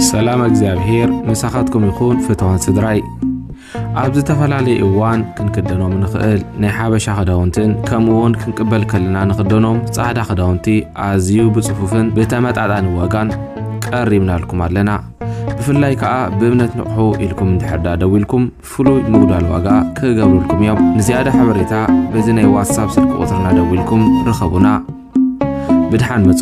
ሰላም እግዚኣብሔር ምሳኻትኩም ይኹን ፍትዋን ስድራይ ኣብ ዝተፈላለየ እዋን ክንክደኖም ንኽእል ናይ ሓበሻ ክዳውንትን ከምኡውን ክንቅበል ከለና ንኽደኖም ጻዕዳ ክዳውንቲ ኣዝዩ ብጽፉፍን ብተመጣጣኒ ዋጋን ቀሪብናልኩም ኣለና ብፍላይ ከዓ ብእምነት ንቕሑ ኢልኩም እንድሕርዳ ደው ኢልኩም ፍሉይ ምጉዳል ዋጋ ክገብሩልኩም እዮም። ንዝያዳ ሓበሬታ በዚ ናይ ዋትሳፕ ስልኪ ቁፅርና ደዊልኩም ርኸቡና። ብድሓን ምፁ።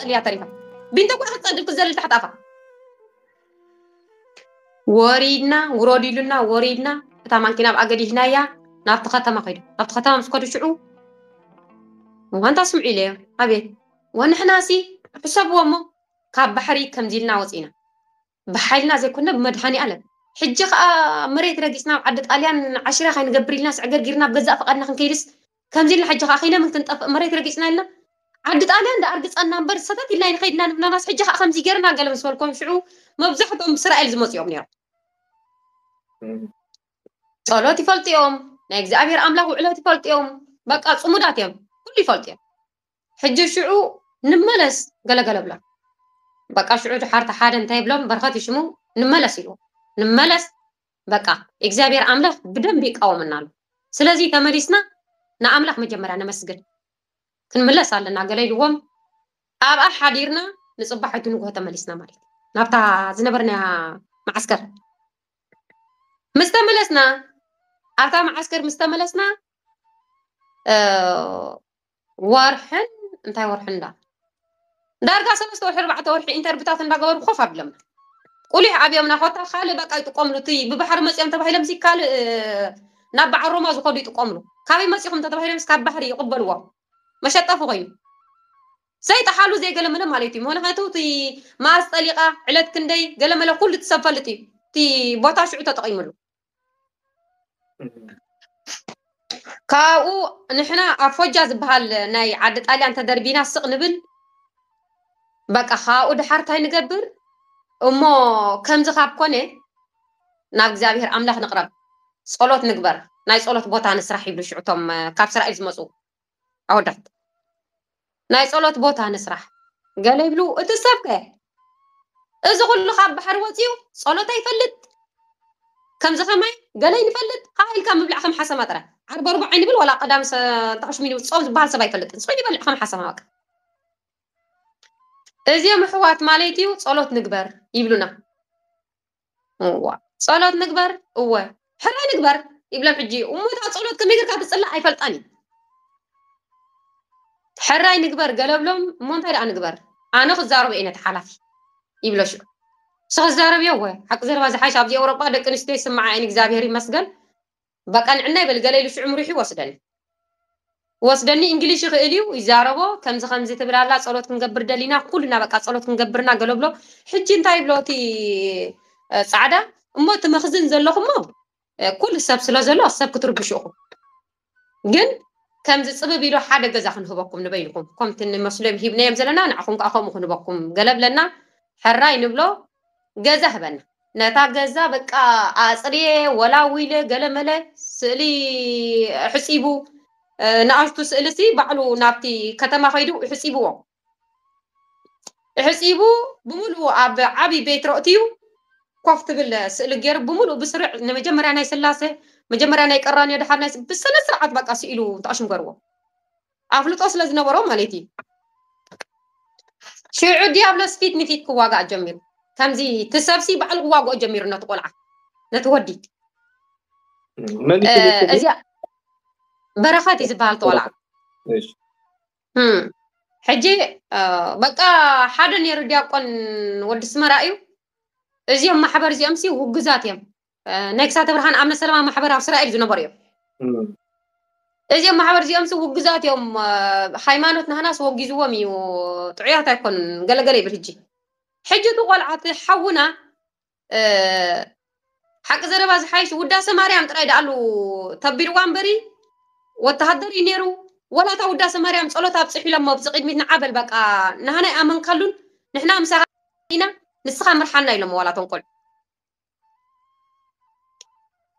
ጽልያ ተሪፋ ቢንቶ እኳ ክትጸድብ ክትዘልል ታሕቲ ኣፋ ወሪድና ውረድ ኢሉና ወሪድና እታ ማንኪና ኣብኣ ገዲፍናያ ናብቲ ከተማ ከይዱ ናብቲ ከተማ ምስ ከዱ ሽዑ ዋንታ ስምዑ ኢለዮ ኣቤት ወንሕናሲ ሕሰብዎ እሞ ካብ ባሕሪ ከምዚ ኢልና ወፂና ብሓይልና ዘይኮንና ብመድሃኒኣለም ሕጂ ከኣ ኣብ መሬት ረጊጽና ኣብ ዓዲ ጣልያን ዓሽራ ካይንገብር ኢልናስ ዕግርጊርና ብገዛእ ፍቃድና ክንከይድስ ከምዚ ኢልና ሕጂ ከኣ ከይነምን ክንጠፍእ መሬት ረጊጽና ኢልና ዓዲ ጣልያን ደኣ ኣርግጸና እምበር ሰተት ኢልና ኣይንኸይድን ኢና ንብላናስ ሕጂ ከኣ ከምዚ ጌርና ገለ ምስ በልኮም ሽዑ መብዛሕትኦም ብስራኤል ዝመጹ እዮም ነይሮም ጸሎት ይፈልጡ እዮም ናይ እግዚኣብሔር ኣምላኽ ውዕለት ይፈልጡ እዮም በቃ ጽሙዳት እዮም ኩሉ ይፈልጡ እዮም ሕጂ ሽዑ ንመለስ ገለገለ ብሎም። በቃ ሽዑ ድሓር ተሓደ እንታይ ብሎም በረኸት ይሽሙ ንመለስ ኢልዎ። ንመለስ በቃ እግዚኣብሔር ኣምላኽ ብደንቢ ይቃወመና ኣሎ። ስለዚ ተመሊስና ንኣምላኽ መጀመርያ ነመስግን። ክንምለስ ኣለና ገለ ኢልዎም። ኣብኣ ሓዲርና ንጽባሒቱ ንግሆ ተመሊስና ማለት እዩ። ናብታ ዝነበርናያ መዓስከር። ምስ ተመለስና ኣብታ መዓስከር ምስ ተመለስና ወርሕን እንታይ ወርሒ እንዳ ዳርጋ ሰለስተ ወርሒ ኣርባዕተ ወርሒ ኢንተርቪታት እንዳገበሩ ኮፍ ኣብሎምና ቁሊሕ ኣብዮምና ኮታ ካልእ በቃ ይጥቀምሉ እቲ ብባሕሪ መፅኦም ተባሂሎም ሲ ካልእ ናብ በዓል ሮማ ዝኸዱ ይጥቀምሉ ካበይ መፂኹም ተተባሂሎም ካብ ባህሪ ይቕበልዎ መሸጠፊ ኮይኑ ዘይጠሓሉ ዘይገለመለ ማለት እዩ ምክንያቱ እቲ ማስ ጠሊቓ ዕለት ክንደይ ገለመለ ኩሉ እቲ ሰብ ፈልጥ እዩ እቲ ቦታ ሽዑ ተጠቒምሉ ካብኡ ንሕና ኣብ ፎጃ ዝበሃል ናይ ዓዲ ጣልያን ተደርቢና ስቕ ንብል በቃ ካብኡ ድሓር እንታይ ንገብር እሞ ከምዚ ካብ ኮነ ናብ እግዚኣብሄር ኣምላኽ ንቕረብ ጸሎት ንግበር ናይ ጸሎት ቦታ ንስራሕ ይብሉ ሽዑ እቶም ካብ እስራኤል ዝመጹ ኣወዳት ናይ ጸሎት ቦታ ንስራሕ ገለ ይብሉ እቲ ሰብ ከ እዚ ኩሉ ካብ ባሕሪ ወጺኡ ጸሎት ኣይፈልጥ ከምዚ ከማይ ገለ ይንፈልጥ ሃ ኢልካ ምብላዕ ከም ሓሰማ ጥራይ ዓርበርቦ ዓይኒ ብል ዋላ ቀዳም ጣዕሽ ሚኒ ጾም ዝበሃል ሰብ ኣይፈልጥን ጽዑ ይበልዕ ከም ሓሰማ በቃ እዚኦም ኣሕዋት ማለት እዩ ጸሎት ንግበር ይብሉና እዋ ጸሎት ንግበር እወ ሕራይ ንግበር ይብሎም ሕጂ እሞ እታ ጸሎት ከመይ ጌርካ ትጽላእ ኣይፈልጣን እዩ ሕራይ ንግበር ገለብሎም እሞ እንታይ ደኣ ንግበር ኣነ ክዛረቦ እየ ነቲ ሓላፊ ይብሎ ሽዑ ንስኻ ዝዛረብዮ እወ ሓቂ ዘረባ ዝሓሽ ኣብዚ ኤውሮጳ ደቂ ኣንስትዮ ይስምዓ እየን እግዚኣብሄር ይመስገን በቃ ንዕና ይበል ገለ ኢሉ ሽዑ ምሪሑ ይወስደኒ ይወስደኒ እንግሊሽ ይኽእል እዩ ይዛረቦ ከምዚ ከምዚ ትብል ኣላ ጸሎት ክንገብር ደሊና ኩልና በቃ ጸሎት ክንገብርና ገለ ብሎ ሕጂ እንታይ ይብሎ እቲ ጻዕዳ እሞ እቲ መኽዝን ዘለኹሞ ኩሉ ሰብ ስለ ዘሎ ሰብ ክትርብሹ ኢኹም ግን ከምዚ ጽብብ ኢሉ ሓደ ገዛ ክንህበኩም ንበይንኹም ከምቲ ንመስሎም ሂብናዮም ዘለና ንዓኹም ከዓ ከምኡ ክንህበኩም ገለ ብለና ሕራይ ንብሎ ገዛ ህበና ነታ ገዛ በቃ ኣጽርየ ወላዊለ ገለመለ ስእሊ ሕጺቡ ንኣሽቱ ስእሊ ሲ ባዕሉ ናብቲ ከተማ ከይዱ ሕጺብዎ ሕጺቡ ብምልኡ ኣብ ዓብይ ቤት ረእትዩ ኮፍ ትብል ስእሊ ገይሩ ብምልኡ ብስርዕ ንመጀመርያ ናይ ስላሴ መጀመርያ ናይ ቀራንዮ ድሓር ናይ ብስነ ስርዓት በቃ ስኢሉ ተኣሽምገርዎ ኣፍልጦ ስለ ዝነበሮ ማለት እዩ። ሽዑ ዲያብሎስ ፊት ንፊት ክዋጋእ ጀሚሩ። ከምዚ እቲ ሰብሲ ባዕሉ ክዋግኦ ጀሚሩ ነቲ ቆልዓ ነቲ ወዲ እዚኣ በረኸት እዩ ዝበሃል ተቆልዓ ሕጂ በቃ ሓደ ነይሩ ዲያቆን ወዲ ስመራ እዩ እዚኦም ማሕበር እዚኦም ሲ ውግዛት እዮም ነግሳተ ብርሃን ኣብ መሰለማ ማሕበር ኣብ እስራኤል ዝነበሩ እዮም እዚኦም ማሕበር እዚኦም ሲ ውግዛት እዮም ሃይማኖት ናህናስ ወጊዝዎም እዩ ጥዑያት ኣይኮኑን ገለገለ ይብል ሕጂ ሕጂ እቲ ቆልዓ እቲ ሓውና ሓቂ ዘረባ ዝሓይሽ ውዳሰ ማርያም ጥራይ ዳኣሉ ተቢልዋ እምበሪ ወተሃደር እዩ ነይሩ ወላ እታ ውዳሰ ማርያም ጸሎት ኣብጽሑ ኢሎሞ ብዚ ቅድሚት ንዓበል በቃ ናህና ይኣመንካሉን ንሕና ምሳኻ ኢና ንስኻ ምርሓና ኢሎሞ ዋላ ተንቆል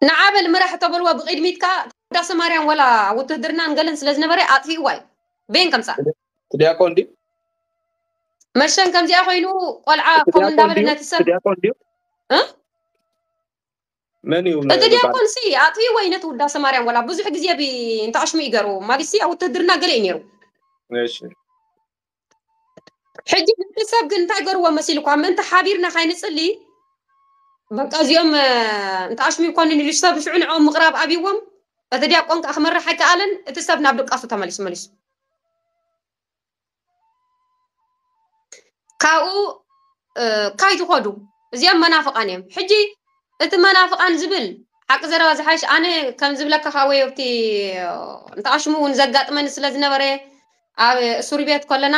ንዓበል ምራሕ ተበልዎ ብቅድሚት ከኣ ቅዳሰ ማርያም ወላ ውትህድርናን ገለን ስለ ዝነበረ ኣጥፊእዋ እዩ ቤን ከምጻእ ትዲያቆን ድዩ መሸን ከምዚኣ ኮይኑ ቆልዓ ከምኡ እንዳበለ ነቲ ሰብ ትዲያቆን ድዩ መን እዩ እቲ ዲያቆን ሲ ኣጥፊእዎ እዩ ነቲ ውዳሰ ማርያም ወላ ብዙሕ ግዜ እንተኣሽሙ ይገሩ ማግስቲ ኣብ ውትህድርና ገለ እዩ ነይሩ እሺ ሕጂ ነቲ ሰብ ግን እንታይ ገርዎ መሲልኳ ምእንቲ ሓቢርና ካይንጽሊ በቃ እዚኦም እንተ ኣሽሙ ይኮንን ኢሉ ሰብ ሽዑ ንዕኦም ምቕራብ ኣብዎም እቲ ዲያቆን ከዓ ክመርሕ ኣይከኣለን እቲ ሰብ ናብ ድቃሱ ተመሊሱ መሊሱ ካብኡ ካይ ዝኸዱ እዚኦም መናፍቃን እዮም ሕጂ እቲ መናፍቃን ዝብል ሓቂ ዘረባ ዝሓይሽ ኣነ ከም ዝብለካ ከዓ ወይ ኣብቲ እንተኣሽሙ እውን ዘጋጥመኒ ስለ ዝነበረ ኣብ እሱርቤት ኮለና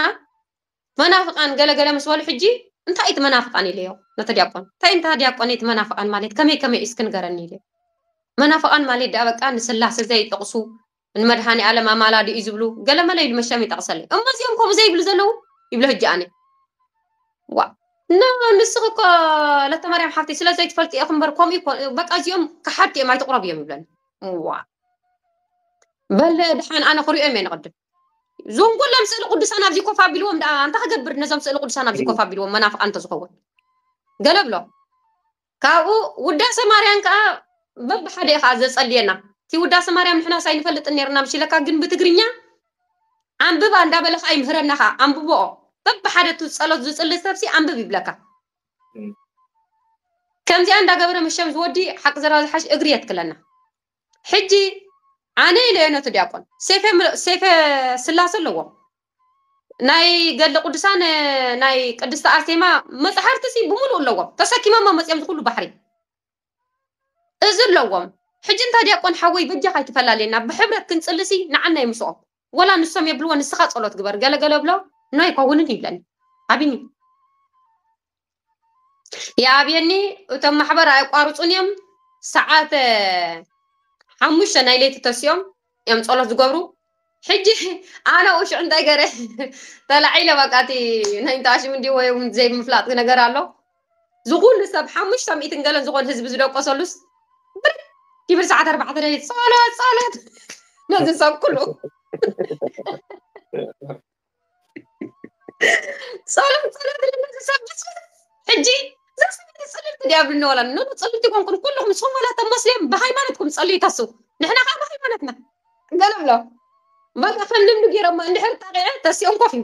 መናፍቃን ገለ ገለ ምስ በሉ ሕጂ እንታይ እቲ መናፍቃን ኢለዮ ነቲ ዲያቆን እንታይ እንታ ዲያቆነይ እቲ መናፍቃን ማልት ከመይ ከመይ እዩ እስኪ ንገረኒ ኢለዮ መናፍቃን ማልት ደኣ በቃ ንስላሰ ዘይጥቅሱ ንመድሃኒኣለም ኣማላዲ እዩ ዝብሉ ገለመለ ኢሉ መሸም ይጠቅሰለይ እሞ እዚኦም ከምኡ ዘይብሉ ዘለዉ ይብሎ ሕጂ ኣነ ዋ እና ንስኺ እኮ ለተማርያም ሓፍተይ ስለ ዘይትፈልጢ ኢኹ እምበር ከምኡ በቃ እዚኦም ከሓድቲ እዮም ኣይትቕረብዮም ይብለኒ እዋ በለ ድሓን ኣነ ክሪኦም እየ ንቅድም ዞም ኩሎም ስእሊ ቅዱሳን ኣብዚ ኮፍ ኣቢልዎም ደኣ ኣንታ ክገብር ነዞም ስእሊ ቅዱሳን ኣብዚ ኮፍ ኣቢልዎም መናፍቃን እንተዝኸውን ገለ ብሎ ካብኡ ውዳሴ ማርያን ከዓ በብሓደ እዩ ከዓ ዘጸልየና እቲ ውዳሴ ማርያም ንሕናስ ኣይንፈልጥን ነርና ምሽ ኢለካ ግን ብትግርኛ ኣንብባ እንዳበለ ከዓ ይምህረና ከዓ ኣንብቦኦ በብሓደ እቲ ጸሎት ዝጽሊ ሰብሲ ኣንብብ ይብለካ ከምዚኣ እንዳገበረ ምሸም ዝወዲ ሓቂ ዘረባ ዝሓሽ እግሪ የትክለና ሕጂ ኣነ ኢለዮ ነቲ ዲያቆን ሴፈ ስላሴ ኣለዎ ናይ ገድለ ቅዱሳን ናይ ቅድስቲ ኣርሴማ መፅሓፍቲ ሲ ብምሉእ ኣለዎም ተሰኪሞሞ መፅኦም ዝኩሉ ባሕሪ እዚ ኣለዎም ሕጂ እንታይ ዲያቆን ሓወይ በጃ ካይትፈላልየና ብሕብረት ክንፅልሲ ንዓና ይምስኦም ወላ ንሶም የብልዎ ንስኻ ጸሎት ግበር ገለ ገለ ብሎ ኖ ኣይከውንን ይብለኒ ኣቢኒ ይኣብየኒ እቶም ማሕበር ኣየቋርፁን እዮም ሰዓት ሓሙሽተ ናይ ለይቲ ተሲኦም እዮም ጸሎት ዝገብሩ ሕጂ ኣነ ውሽዕ እንታይ ገረ ተላዒለ በቃ እቲ ናይ እንተኣሽም እንዲ ወይ ዘይምፍላጥ ነገር ኣሎ ዝኹሉ ሰብ ሓሙሽተ ሚእትን ገለን ዝኾን ህዝቢ ዝደቆሰሉስ ብር ይብል ሰዓት ኣርባዕተ ለሊት ጸሎት ጸሎት ነዚ ሰብ ኩሉ ጸሎት ጸሎት ነዚ ሰብ ብጽሎት ሕጂ ዘስብቲ ጽልልቲ ዲያብልና ወላ ኖ ጽልልቲ ኮንኩም ኩልኹም ጾም ወላ ተመስልዮም ብሃይማኖትኩም ጸልዩ ተስው ንሕና ከዓ ብሃይማኖትና ገለ ብሎ በቃ ከም ልምዲ ገይሮማ እንድሕር ጣቂዐ ተሲኦም ኮፍ እዩ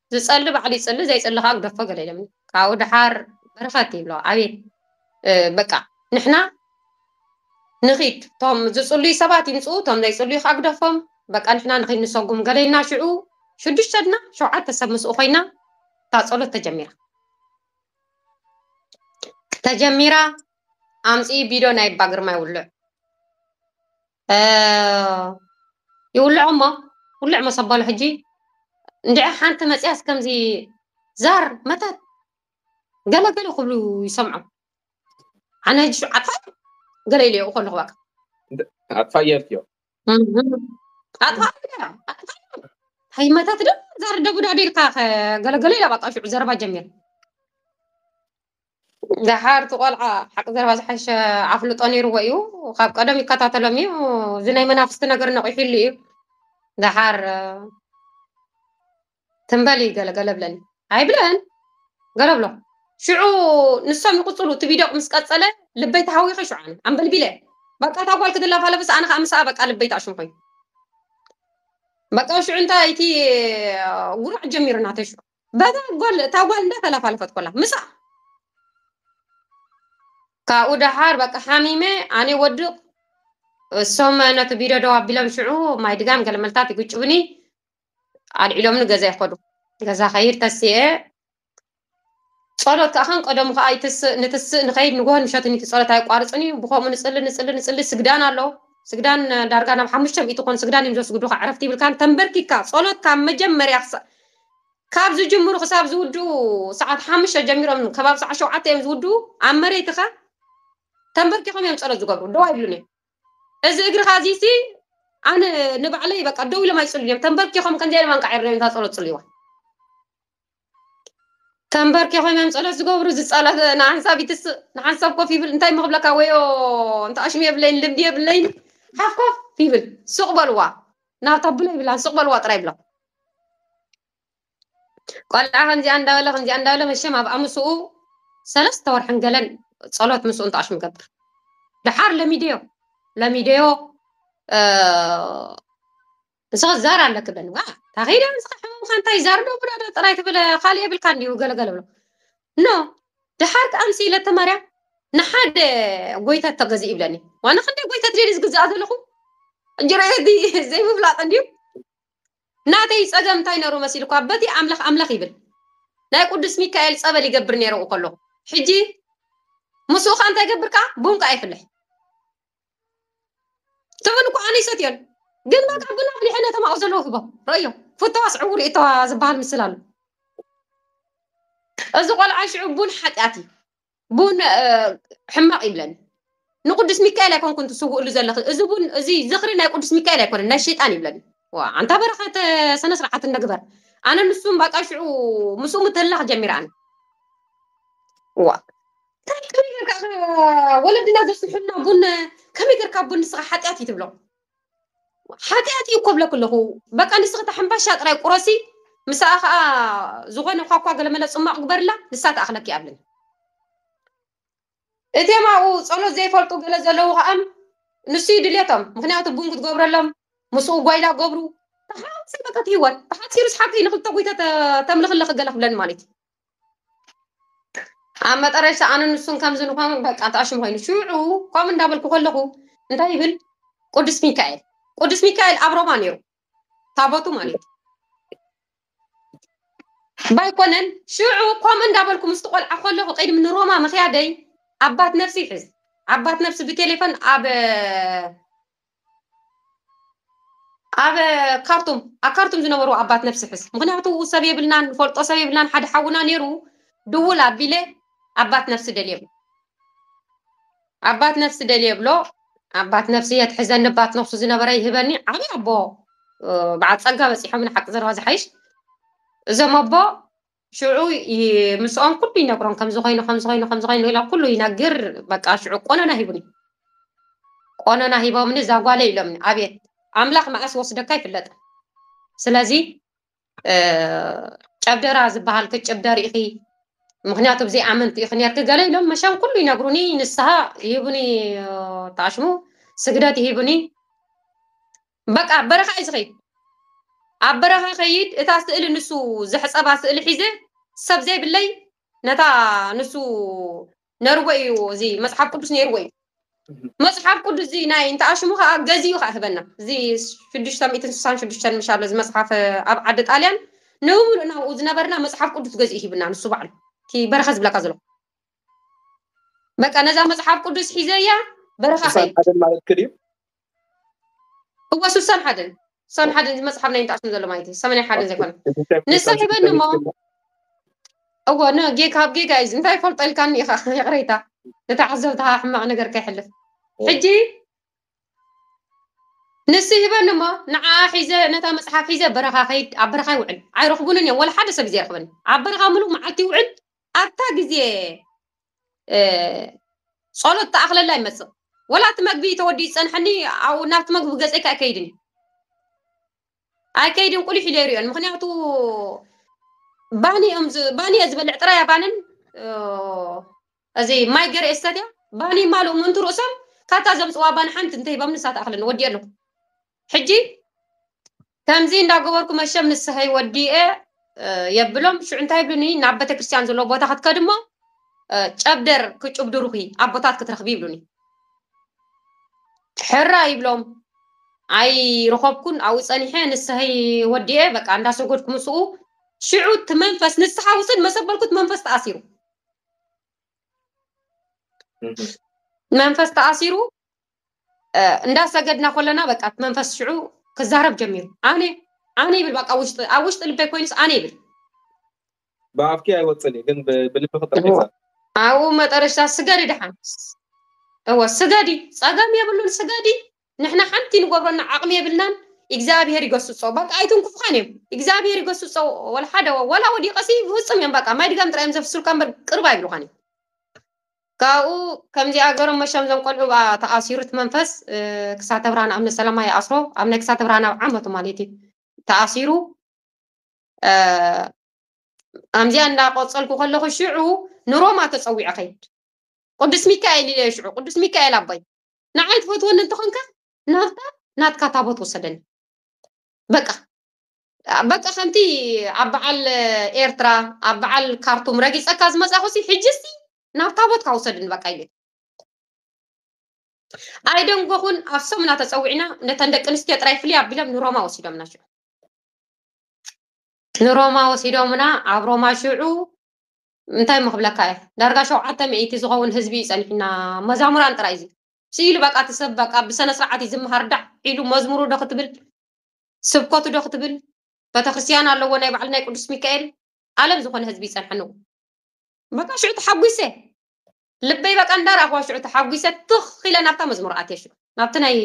ዝጸሊ ባዕሉ ይጽሊ ዘይጽሊ ከኣ ግደፎ ገለ ኢሎም እዮም። ካብኡ ደሓር በረኸት ይብሎ ኣቤት በቃ ንሕና ንኺድ እቶም ዝጽልዩ ሰባት ይምጽኡ እቶም ዘይጽልዩ ከኣ ግደፎም በቃ ንሕና ንኺድ ንሰጉም ገለ ኢልና ሽዑ ሽዱሽተ ድና ሸውዓተ ሰብ ምስኡ ኮይና እታ ጸሎት ተጀሚራ ተጀሚራ ኣምጽኢ ቢዶ ናይ ኣባ ግርማይ ውልዕ ይውልዖ እሞ ውልዕ መሰበሉ ሕጂ እንድዐ ሓንቲ መፅያስ ከምዚ ዛር መታት ገለገለ ክብሉ ይሰምዖ ኣነ ሕጂ ሸውዓታይ ገለ ኢለዮ ከለኹ በቃ ኣጥፋየት እዮ ኣይ መታት ዶ ዛር ደቡዳ ደልካ ገለገለ ኢላ በቃ ሽዑ ዘረባ ጀሚር ደሓር እቲ ቆልዓ ሓቂ ዘረባ ዝሓሸ ኣፍልጦ ነይርዎ እዩ ካብ ቀደም ይከታተሎም እዩ እዚ ናይ መናፍስቲ ነገር ነቂሒሉ እዩ ደሓር እ፣ ትንበል እዩ ገለ ገለ ብለኒ ኣይብለን ገለ ብሎ ሽዑ ንሶም ይቕፅሉ እቲ ቪድዮ ምስ ቀፀለ ልበይ ተሃዊኸ ሽዑ ኣነ ኣንበልቢለ በቃ እታ ጓል ክትላፋ ለብስ ኣነ ከዓ ምስኣ በቃ ልበይ ተኣሽም ኮይኑ በቃ ሽዑ እንታይ እቲ ጉራዕ ጀሚሩ ናተይ ሽዑ በታ ጎል እታ ጓል እንዳ ተላፋለፈት ኮላ ምሳ ካብኡ ደሓር በቃ ሓሚመ ኣነ ወድቕ እሶም ነቲ ቪድዮ ደው ኣቢሎም ሽዑ ማይ ድጋም ገለ መልታት ይግጭብኒ ኣልዒሎምኒ ገዛ ይኸዱ ገዛ ከይድ ተስኤ ጸሎት ከዓ ከም ቀደሙ ከዓ ይትስእ ንትስእ ንኸይድ ንጎሆ ንሸትን እቲ ጸሎት ኣይቋርፅን እዩ ብከምኡ ንፅሊ ንፅሊ ንፅሊ ስግዳን ኣሎ ስግዳን ዳርጋ ናብ ሓሙሽተ ሚእቲ ኮን ስግዳን እዮም ዘስግዱካ ዕረፍቲ ይብልካን ተንበርኪካ ጸሎት ካብ መጀመርያ ካብ ዝጅምሩ ክሳብ ዝውድኡ ሰዓት ሓሙሽተ ጀሚሮም ከባቢ ሰዓት ሸውዓተ እዮም ዝውድኡ ኣብ መሬትኻ ተንበርኪኾም እዮም ፀሎት ዝገብሩ ደው ኣይብሉን እዮም እዚ እግርኻ እዚሲ ኣነ ንባዕለይ በቃ ደው ኢሎም ኣይፅሉን እዮም ተንበርኪኾም ከምዚ ኢሎም ኣንቃዒሮም እዮም እታ ፀሎት ፅልይዋ ተንበርኪኾም እዮም ፀሎት ዝገብሩ እዚ ፀሎት ንሓንሳብ ይትስእ ንሓንሳብ ኮፍ ይብል እንታይ እሞ ክብለካ ወዮ እንተ ኣሽሙ የብለይን ልምዲ የብለይን ሓፍ ኮፍ ይብል ሱቕ በልዋ ናብታ ብሎ ይብላን ሱቕ በልዋ ጥራይ ይብሎም ቆልዓ ከምዚኣ እንዳበለ ከምዚኣ እንዳበለ መሸም ኣብ ኣምስኡ ሰለስተ ወርሕን ገለን ጸሎት ምስኡ እንተኣሽም ገብር ድሓር ለሚደዮ ለሚደዮ ንስኸ ዛር ኣለክ ብለን ዋ ታኸይደ ንስኻ ሕመምካ እንታይ ዛር ዶ ብሎ ዶ ጥራይ ትብለ ካልእ የብልካ እንዲሁ ገለገለ ብሎ ኖ ድሓር ከኣ ምስ ኢለተ ማርያም ንሓደ ጎይታ ተገዝእ ይብለኒ ዋና ክንደይ ጎይታ ትደሊ ዝግዝኣ ዘለኹ እንጀራ ዘይምፍላጥ እንዲዩ ናተይ ጸገም እንታይ ነሩ መሲልኳ በቲ ኣምለኽ ኣምለኽ ይብል ናይ ቁዱስ ሚካኤል ጸበል ይገብር ነረ ኣብኡ ከሎ ሕጂ ምስኡ ከ እንታይ ገብር ከኣ ቡን ከኣ ይፍልሕ ትብል እኮ ኣነ ይሰትዮን ግን በቃ ቡን ኣፍሊሐ ነቶም ኣብኡ ዘለዉ ህቦም ረእዮ ፍተዋስ ዕውር ይእተዋ ዝበሃል ምስል ኣሎ እዚ ቆልዓ ሽዑ ቡን ሓጢኣት እዩ ቡን ሕማቕ ይብለን ንቅዱስ ሚካኤል ኣይኮንኩን ትስውእሉ ዘለኺ እዚ ቡን እዚ ዝኽሪ ናይ ቅዱስ ሚካኤል ኣይኮነን ናይ ሸይጣን ይብለን ዋ ኣንታ በረኸት ስነ ስርዓት እንደግበር ኣነ ንሱም ባቃ ሽዑ ምስኡ ምትህላኽ ጀሚረኣን ዋ እንታይ ከመይ ጌርካ ወለድና ዘስሕና ቡን ከመይ ጌርካ ቡን ንስኻ ሓጢኣት እዩ ትብሎ ሓጢኣት እዩ እኮ ብለክ ኣለኹ በቃ ንስኺ እታ ሕምባሻ ጥራይ ቁረሲ ምስኣ ከዓ ዝኾነ ኳኳ ገለመለ ፅሟቕ ግበርላ ንሳ ትኣኽለኪ ኣብለኒ እቴም ኣብኡ ፀሎት ዘይፈልጡ ገለ ዘለዉ ከዓ ንሱ እዩ ድሌቶም ምክንያቱ ቡን ክትገብረሎም ምስኡ ጓይላ ገብሩ ተሓዋወሰ በቃ እቲ ህይወት ተሓፂሩስ ሓቂ ንክልተ ጉይተ ተምልኽ ኣለኺ ገለ ክብለኒ ማለት እዩ ኣብ መጠረሻ ኣነ ንሱን ከምዚ ንኾኑ በቃ ተኣሽሙ ኮይኑ ሽዑ ከምኡ እንዳበልኩ ከለኹ እንታይ ይብል ቅዱስ ሚካኤል ቅዱስ ሚካኤል ኣብ ሮማ ነይሩ ታቦቱ ማለት ባይኮነን ሽዑ ከምኡ እንዳበልኩ ምስቲ ቆልዓ ከለኹ ቅድሚ ንሮማ ምክያደይ ኣባት ነፍሲ ይሕዝ ኣባት ነፍሲ ብቴሌፎን ኣብ ኣብ ካርቱም ኣብ ካርቱም ዝነበሩ ኣባት ነፍሲ ሕዝ ምክንያቱ ሰብ የብልናን ንፈልጦ ሰብ የብልናን ሓደ ሓውና ነይሩ ድውል ኣቢለ ኣባት ነፍሲ ደል የብሎ ኣባት ነፍሲ ደል የብሎ ኣባት ነፍሲ የትሕዘኒ ባት ነፍሱ ዝነበረ ይህበኒ ዓብ ኣቦ በዓል ጸጋ በፂሖም ንሓቂ ዘረባ ዝሓይሽ እዞም ኣቦ ሽዑ ምስኦም ኩሉ ይነግሮም ከምዚ ኮይኑ ከምዚ ኮይኑ ከምዚ ኮይኑ ኢሎም ኩሉ ይነግር በቃ ሽዑ ቆነና ሂቡኒ ቆነና ሂቦምኒ እዛ ጓለ ኢሎምኒ ኣቤት ኣምላኽ መዓስ ወስደካ ኣይፍለጥን ስለዚ ጨብደራ ዝበሃል ክጭብደር ኢኺ ምክንያቱ ብዘይ ኣመንቲ ኢኺ ነርኪ ገለ ኢሎም መሻም ኩሉ ይነግሩኒ ንስሃ ይህቡኒ ተኣሽሙ ስግደት ይህቡኒ በቃ ኣብ በረኻ እየ ዝኸይድ ኣብ በረኻ ከይድ እታ ስእሊ ንሱ ዘሕፀባ ስእሊ ሒዘ ሰብ ዘይብለይ ነታ ንሱ ነርዎ እዩ እዚ መፅሓፍ ቅዱስ ነይርዎ እዩ መፅሓፍ ቅዱስ እዚ ናይ እንተኣሽሙ ከዓ ገዚኡ ከዓ ህበና እዚ ሽዱሽተ ሚእትን ስሳን ሽዱሽተን ምሽ ኣሎ እዚ መፅሓፍ ኣብ ዓዲ ጣልያን ንብምሉእ ናብኡ ዝነበርና መፅሓፍ ቅዱስ ገዚኡ ሂብና ንሱ ባዕሉ እቲ በረኻ ዝብለካ ዘሎ በቃ ነዛ መፅሓፍ ቅዱስ ሒዘያ በረኻ ኸይድ እወ ስሳን ሓደን ሳን ሓደን እዚ መፅሓፍ ናይ እንተኣስም ዘሎ ማለት እዩ ሰመናይ ሓደን ዘይኮነ ንሳ ሂበኒ እሞ እወ ካብ ጌጋ እዩ እንታይ ፈልጦ ኢልካኒ ኢኻ ይቕረይታ ንተዓዘብትኻ ሕማቕ ነገር ከይሕልፍ ሕጂ ንስ ሂበኒ እሞ ንዓ ሒዘ ነታ መፅሓፍ ሒዘ በረኻ ከይድ ኣብ በረኻ ይውዕል ኣይረኽቡንን እዮም ወላ ሓደ ሰብ እዩ ዘይረኽበኒ ኣብ በረኻ ምሉእ መዓልቲ ይውዕል ኣብታ ግዜ ጸሎት ተኣኽለላ ይመጽእ ወላ እቲ መግቢ ተወዲኡ ይጸንሐኒ ኣብ ናብቲ መግቢ ገጸይካ ኣይከይድን እዩ ኣይከይድን ቁሊሕ ኢለ ይሪኦን ምክንያቱ ባኒ እዮም ባኒ እየ ዝበልዕ ጥራይ ባንን እዚ ማይ ገረ እስተትያ ባኒ ማሉ ምንቱ ርእሶም ካብታ ዘምፅዋ ባኒ ሓንቲ እንተሂቦም ንሳ ተኣኽለኒ ወዲኦ ኣለኩ ሕጂ ከምዚ እንዳገበርኩ መሸም ንስሐይ ወዲኤ የብሎም ሽዑ እንታይ ይብሉኒ ናብ ቤተክርስትያን ዘለዎ ቦታ ክትከድ እሞ ጨብደር ክጭብድሩኺ ኣቦታት ክትረኽቢ ይብሉኒ ሕራ ይብሎም ኣይረኸብኩን ኣብኡ ፀኒሐ ንስሐይ ወዲኤ በቃ እንዳሰጎድኩ ምስኡ ሽዑ እቲ መንፈስ ንስሓ ውፅድ መሰበልኩት መንፈስ ተኣሲሩ መንፈስ ተኣሲሩ እንዳ ሰገድና ኮለና በቃ እቲ መንፈስ ሽዑ ክዛረብ ጀሚሩ ኣነ ኣነ ይብል ባቃ ውሽጢ ኣብ ውሽጢ ልበይ ኮይኑስ ኣነ ይብል። ብኣፍኪ ኣይወጽን እዩ ግን ብልብኺ ጥራሕ እዩ ዘሎ። ኣብኡ መጠረሽታ ስገዲ ደሓን እወ ስገዲ ጸገም የብሉን ስገዲ ንሕና ሓንቲ ንገብረና ዓቅሚ የብልናን ኢግዛኣብሄር ይገስጾ ባቃ ኣይትንኩፍኻን እዮም ኢግዛኣብሄር ይገስጾ ወላ ሓደ ወላ ወዲቀሲ ብፍጹም እዮም ባቃ ማይ ድጋም ጥራይ እዮም ዘፍስሉካ እምበር ቅርብ ኣይብሉኻን እዮም። ካብኡ ከምዚኣ ገሮም መሾም ዘም ቆልዑ ብኣ ተኣሲሩት መንፈስ ክሳተ ብርሃን ኣብ ነሰላማ ይኣስሮ ኣብ ናይ ክሳተ ብርሃን ኣብ ዓመቱ ማለት እዩ ተኣሲሩ ኣምዚኣ እንዳቆፀልኩ ከለኹ ሽዑ ንሮማ ተፀዊዐ ከይድ ቅዱስ ሚካኤል ኢለ ሽዑ ቅዱስ ሚካኤል ኣቦይ ንዓይ ትፈትወኒ እንተኾንካ ናብታ ናትካ ታቦት ወሰደኒ በቃ በቃ ከምቲ ኣብ በዓል ኤርትራ ኣብ በዓል ካርቱም ረጊጸካ ዝመጻኹሲ ሕጂ እስቲ ናብ ታቦትካ ውሰድኒ በቃ ኢለ ኣይደንጎኹን ኣብ ሰሙና ተጸዊዕና ነተን ደቂ ኣንስትዮ ጥራይ ፍልይ ኣቢሎም ንሮማ ወሲዶምና ሽዑ ንሮማ ወሲዶምና ኣብ ሮማ ሽዑ እንታይ እሞ ክብለካ እየ ዳርጋ ሸውዓተ ሚእቲ ዝኸውን ህዝቢ እዩ ጸኒሕና መዛሙራን ጥራይ እዚ ስኢሉ በቃ እቲ ሰብ በቃ ብሰነ ስርዓት እዩ ዝመሃር ዳዕ ኢሉ መዝሙሩ ዶ ክትብል ስብከቱ ዶ ክትብል በተክርስትያን ኣለዎ ናይ ባዕሉ ናይ ቅዱስ ሚካኤል ኣለም ዝኾነ ህዝቢ ይጸንሐኑ። በቃ ሽዑ ተሓጒሰ ልበይ በቃ እንዳረኣኽዋ ሽዑ ተሓጒሰ ትኽ ኢለ ናብታ መዝሙር ኣትየ ሽዑ ናብቲ ናይ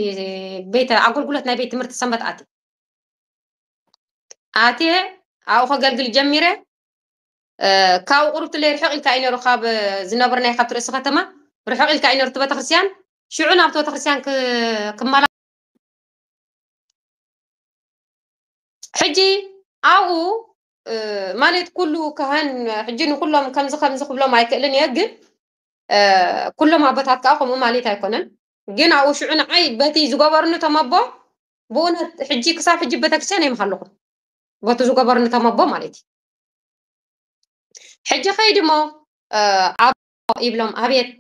ቤተ ኣገልግሎት ናይ ቤት ትምህርቲ ሰንበት ኣትየ ኣትየ ኣብኡ ከገልግል ጀሚረ ካብኡ ቁሩብ ትለይ ርሕቕ ኢልካ እዩ ነይሩ ካብ ዝነብርናይ ካብቲ ርእሲ ከተማ ርሕቕ ኢልካ እዩ ነይሩ እቲ ቤተክርስትያን ሽዑ ናብቲ ቤተክርስትያን ክመላ ሕጂ ኣብኡ ማለት ኩሉ ካህን ሕጂ ንኩሎም ከምዚ ከምዚ ክብሎም ኣይክእልን እየ ግን ኩሎም ኣቦታት ከዓ ከምኡ ማለት ኣይኮነን ግን ኣብኡ ሽዑ ንዓይ በቲ ዝገበርኒ ተመቦ ብእውነት ሕጂ ክሳብ ሕጂ ቤተክርስትያን የምሃለኹ በቲ ዝገበርኒ ተመቦ ማለት እዩ ሕጂ ከይዲ እሞ ኣብ ይብሎም ኣብየት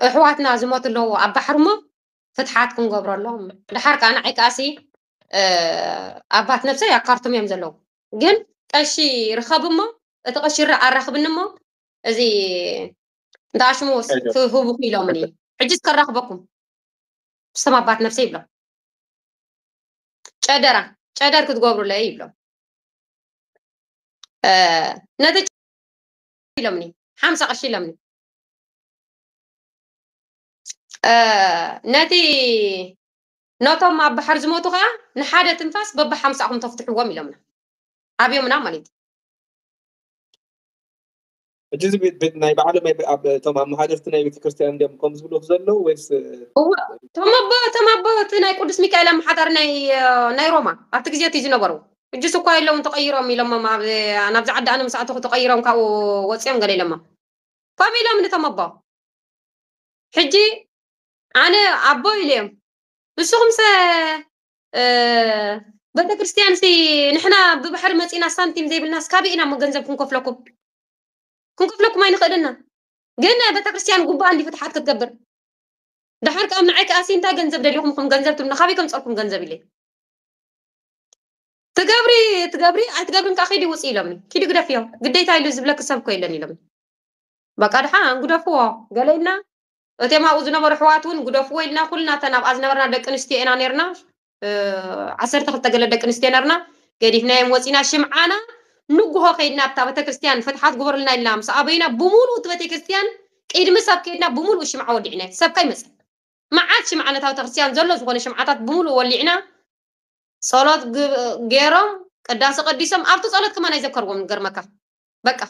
እሕዋትና ዝሞት ኣለዎ ኣብ ባሕሪ እሞ ፍትሓት ክንገብረሎም ድሓር ከኣ ንዓይ ከኣሲ ኣባት ነብሰይ ኣብ ካርቱም እዮም ዘለዉ ግን ቀሺ ርኸብ እሞ እቲ ቀሺ ራ ኣራኽብኒ እሞ እዚ እንተ ኣሽሙ ክህቡኹ ኢሎምኒ ሕጂ ከራኽበኩም ስም ኣባት ነብሰይ ይብሎም ጨደራ ጨደር ክትገብሩለይ ይብሎም ነቲ ኢሎምኒ ሓምሳ ቀሺ ኢሎምኒ ነቲ ነቶም ኣብ ባሕር ዝሞቱ ከኣ ንሓደ ትንፋስ በብሓምሳኹም ተፍትሕዎም ኢሎምና ኣብዮምና ማለት እዩ ሕጂ እዚ ናይ ባዕሎም እቶም ኣመሓደርቲ ናይ ቤተክርስትያን እንዲኦም ከም ዝብሉ ዘለዉ ወይስ እወ እቶም ኣቦ እቶም ኣቦ እቲ ናይ ቅዱስ ሚካኤል ኣመሓዳሪ ናይ ናይ ሮማ ኣብቲ ግዜ እቲ ዝነበሩ ሕጂስ እኳ የለውን ተቐይሮም ኢሎሞም ኣብ ናብዚ ዓዲ ኣነ ምስ ኣተኹ ተቐይሮም ካብኡ ወፂኦም ገለ ኢሎሞም ከምኡ ኢሎም ንቶም ኣቦ ሕጂ ኣነ ኣቦ ኢለዮም ንስኹምሰ ቤተ ክርስቲያንሲ ንሕና ብባሕሪ መፂና ሳንቲም ዘይብልናስ ካበይ ኢና እሞ ገንዘብ ክንከፍለኩም ክንከፍለኩም ኣይንኽእልና ግን ቤተ ክርስቲያን ጉባኣ እንዲ ፍትሓት ክትገብር ድሓር ካብ ንዓይ ከኣሲ እንታይ ገንዘብ ደሊኹም ኹም ገንዘብ ትብሉ ካበይ ከምፀልኩም ገንዘብ ኢለ ትገብሪ ትገብሪ ኣይትገብርን ከዓ ኪዲ ውፅ ኢሎምኒ ኪዲ ግደፍዮ ግዴታ ኢሉ ዝብለኪ ሰብ እኮ የለን ኢሎምኒ በቃ ድሓን ግደፍዎ ገለ ኢልና እቲኦም ኣብኡ ዝነበሩ ኣሕዋት እውን ግደፍዎ ኢልና ኩልና እተን ኣብኣ ዝነበርና ደቂ ኣንስትዮ ኢና ነርና ዓሰርተ ክልተ ገለ ደቂ ኣንስትዮ ነርና ገዲፍናዮም ወፂና ሽምዓና ንጉሆ ከይድና ኣብታ ቤተክርስትያን ፍትሓት ግበሩልና ኢልና ምስ ኣበይና ብምሉእ እቲ ቤተክርስትያን ቅድሚ ሰብ ከይድና ብምሉእ ሽምዓ ወሊዕና እቲ ሰብካ ይመፅእ መዓት ሽምዓ ነታ ቤተክርስትያን ዘሎ ዝኾነ ሽምዓታት ብምሉእ ወሊዕና ጸሎት ገይሮም ቅዳሴ ቀዲሶም ኣብቲ ጸሎት ከማን ኣይዘከርዎም ንገርመካ በቃ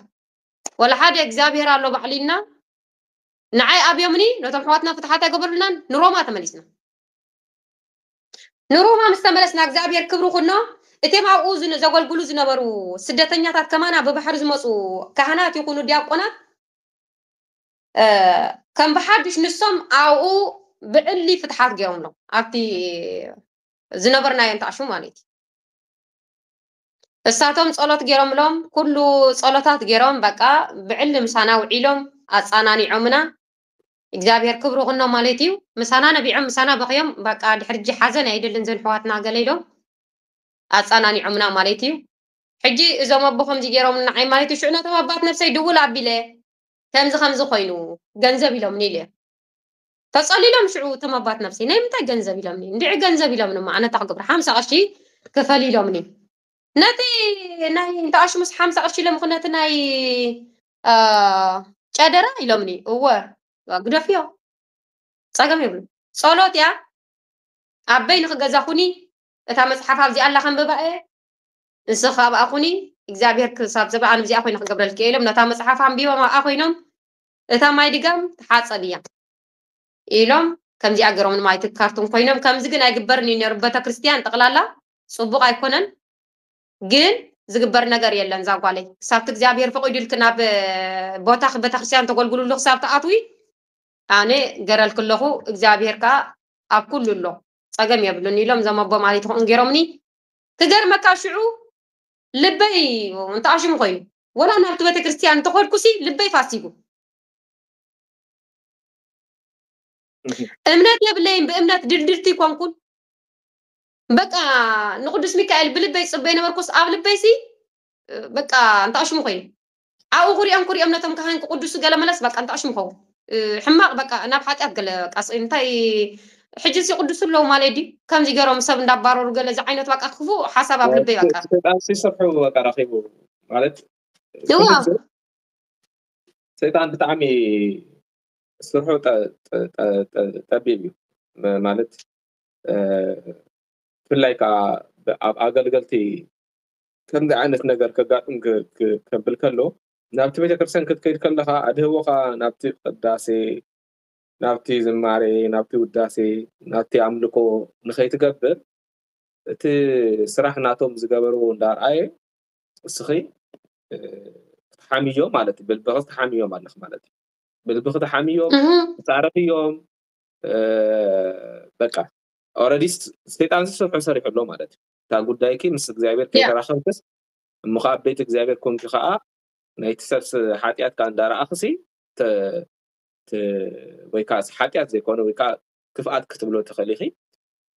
ወላ ሓደ እግዚኣብሔር ኣሎ ባዕሉ ኢልና ንዓይ ኣብዮምኒ ነቶም ሕዋትና ፍትሓት ኣይገበሩልናን ንሮማ ተመሊስና ንሮማ ምስ ተመለስና እግዚኣብሔር ክብሪ ኩኖ እቲም ኣብኡ ዘገልግሉ ዝነበሩ ስደተኛታት ከማና ብባሕሪ ዝመፁ ካህናት ይኹኑ ዲያቆናት ከም ብሓዱሽ ንሶም ኣብኡ ብዕሊ ፍትሓት ገይሮምሎም ኣብቲ ዝነበርናዮ እንተኣሹ ማለት እዩ እሳቶም ጸሎት ጌሮምሎም ኩሉ ጸሎታት ጌሮም በቃ ብዕሊ ምሳና ውዒሎም ኣጻናኒዖምና እግዚኣብሔር ክብሩ ኩኖ ማለት እዩ ምሳና ነቢዖም ምሳና በኽዮም በቃ ድሕርጂ ሓዘን ኣይደልን ዘን ሕዋትና ገለ ኢሎም ኣጻናኒዖምና ማለት እዩ ሕጂ እዞም ኣቦ ከምዚ ጌሮም ንዓይ ማለት እዩ ሽዑ ነቶም ኣባት ነብሰይ ድውል ኣቢለ ከምዚ ከምዚ ኮይኑ ገንዘብ ኢሎምኒ ኢለ ተጸሊሎም ሽዑ እቶም ኣባት ነብሲ ናይ ምንታይ ገንዘብ ኢሎምኒ እንድዒ ገንዘብ ኢሎምኒ እሞ ኣነ ታኽ ግብሪ ሓምሳ ቅርሺ ክፈል ኢሎምኒ ነቲ ናይ እንተ ኣሽሙስ ሓምሳ ቅርሺ ኢሎም ነቲ ናይ ጨደራ ኢሎምኒ እወ ግደፍዮ ጸገም የብሉ ጸሎት እያ ኣበይ ንክገዛ ኩኒ እታ መጽሓፍ ኣብዚኣ ኣላ ከንብባ እየ ንስኻ ኣብኣ ኩኒ እግዚኣብሔር ክሳብ ዘበኣን እዚኣ ኮይነ ክገብረልኪ እየ ኢሎም ነታ መጽሓፍ ኣንቢቦም ኣብኣ ኮይኖም እታ ማይ ድጋም ትሓጸብ እያ ኢሎም ከምዚኣ ገሮም ንማይ እቲ ካርቶን ኮይኖም ከምዚ ግን ኣይግበርን እዩ ነሩ በተክርስትያን ጠቅላላ ጽቡቅ ኣይኮነን ግን ዝግበር ነገር የለን ዛጓለይ ክሳብቲ እግዚኣብሔር ፈቂዱልክ ናብ ቦታክ በተክርስትያን ተገልግሉሉ ክሳብ ትኣትዊ ኣነ ገረልክ ኣለኹ እግዚኣብሔር ከኣ ኣብ ኩሉ ኣሎ ጸገም የብሉን ኢሎም ዘመቦ ማለት ይኹን ገሮምኒ ክገርመካ ሽዑ ልበይ እንተኣሽሙ ኮይኑ ወላ ናብቲ ቤተክርስትያን እንተኾድኩሲ ልበይ ፋሲጉ እምነት የብለይን ብእምነት ድልድልቲ ኮንኩን በቃ ንቅዱስ ሚካኤል ብልበይ ጽበይ ነበርኩስ ኣብ ልበይሲ በቃ እንተኣሽሙ ኮይኑ ኣብኡ ክሪኦም ክሪኦም ነቶም ካህን ክቁድሱ ገለ መለስ በቃ እንታይ ሽሙ ኸውን ሕማቅ በቃ ናብ ሓጢኣት ገለ ቃስ እንታይ ሕጂ ሲቅዱሱ ኣለዉ ማለት ድዩ ከምዚ ገሮም ሰብ እንዳባረሩ ገለ ዝዓይነቱ በቃ ክፉእ ሓሳብ ኣብ ልበይ በቃ ሰይጣን ሲሰብሑ በቃ ረኺቡ ማለት እዋ ሰይጣን ብጣዕሚ ስርሑ ጠቢብ እዩ ማለት ብፍላይ ከዓ ኣብ ኣገልገልቲ ከምዚ ዓይነት ነገር ከጋጥም ከብል ከሎ ናብቲ ቤተክርስትያን ክትከይድ ከለኻ ኣድህቦኻ ናብቲ ቅዳሴ ናብቲ ዝማሬ ናብቲ ውዳሴ ናብቲ ኣምልኮ ንኸይትገብር እቲ ስራሕ ናቶም ዝገበርዎ እንዳርኣየ እስኺ ክትሓምዮ ማለት እዩ ብልብኺ ትሓምዮም ኣለኽ ማለት እዩ ብልብኺ ትሓምዮም ትፃረፍዮም በቃ ኦረዲስ ሰይጣን ዝስርሑ ሰሪሑ ኣሎ ማለት እዩ እታ ጉዳይኪ ምስ እግዚኣብሔር Yeah. ከይተራኸብክስ እሞ ከኣ ኣብ ቤት እግዚኣብሔር ኮንኪ ከኣ ናይቲ ሰብስ ሓጢኣት ከኣ እንዳረኣኽሲ ተ- ተ- ወይ ከኣ ሓጢኣት ዘይኮነ ወይ ከኣ ክፍኣት ክትብሎ ትኽእሊ ኢኺ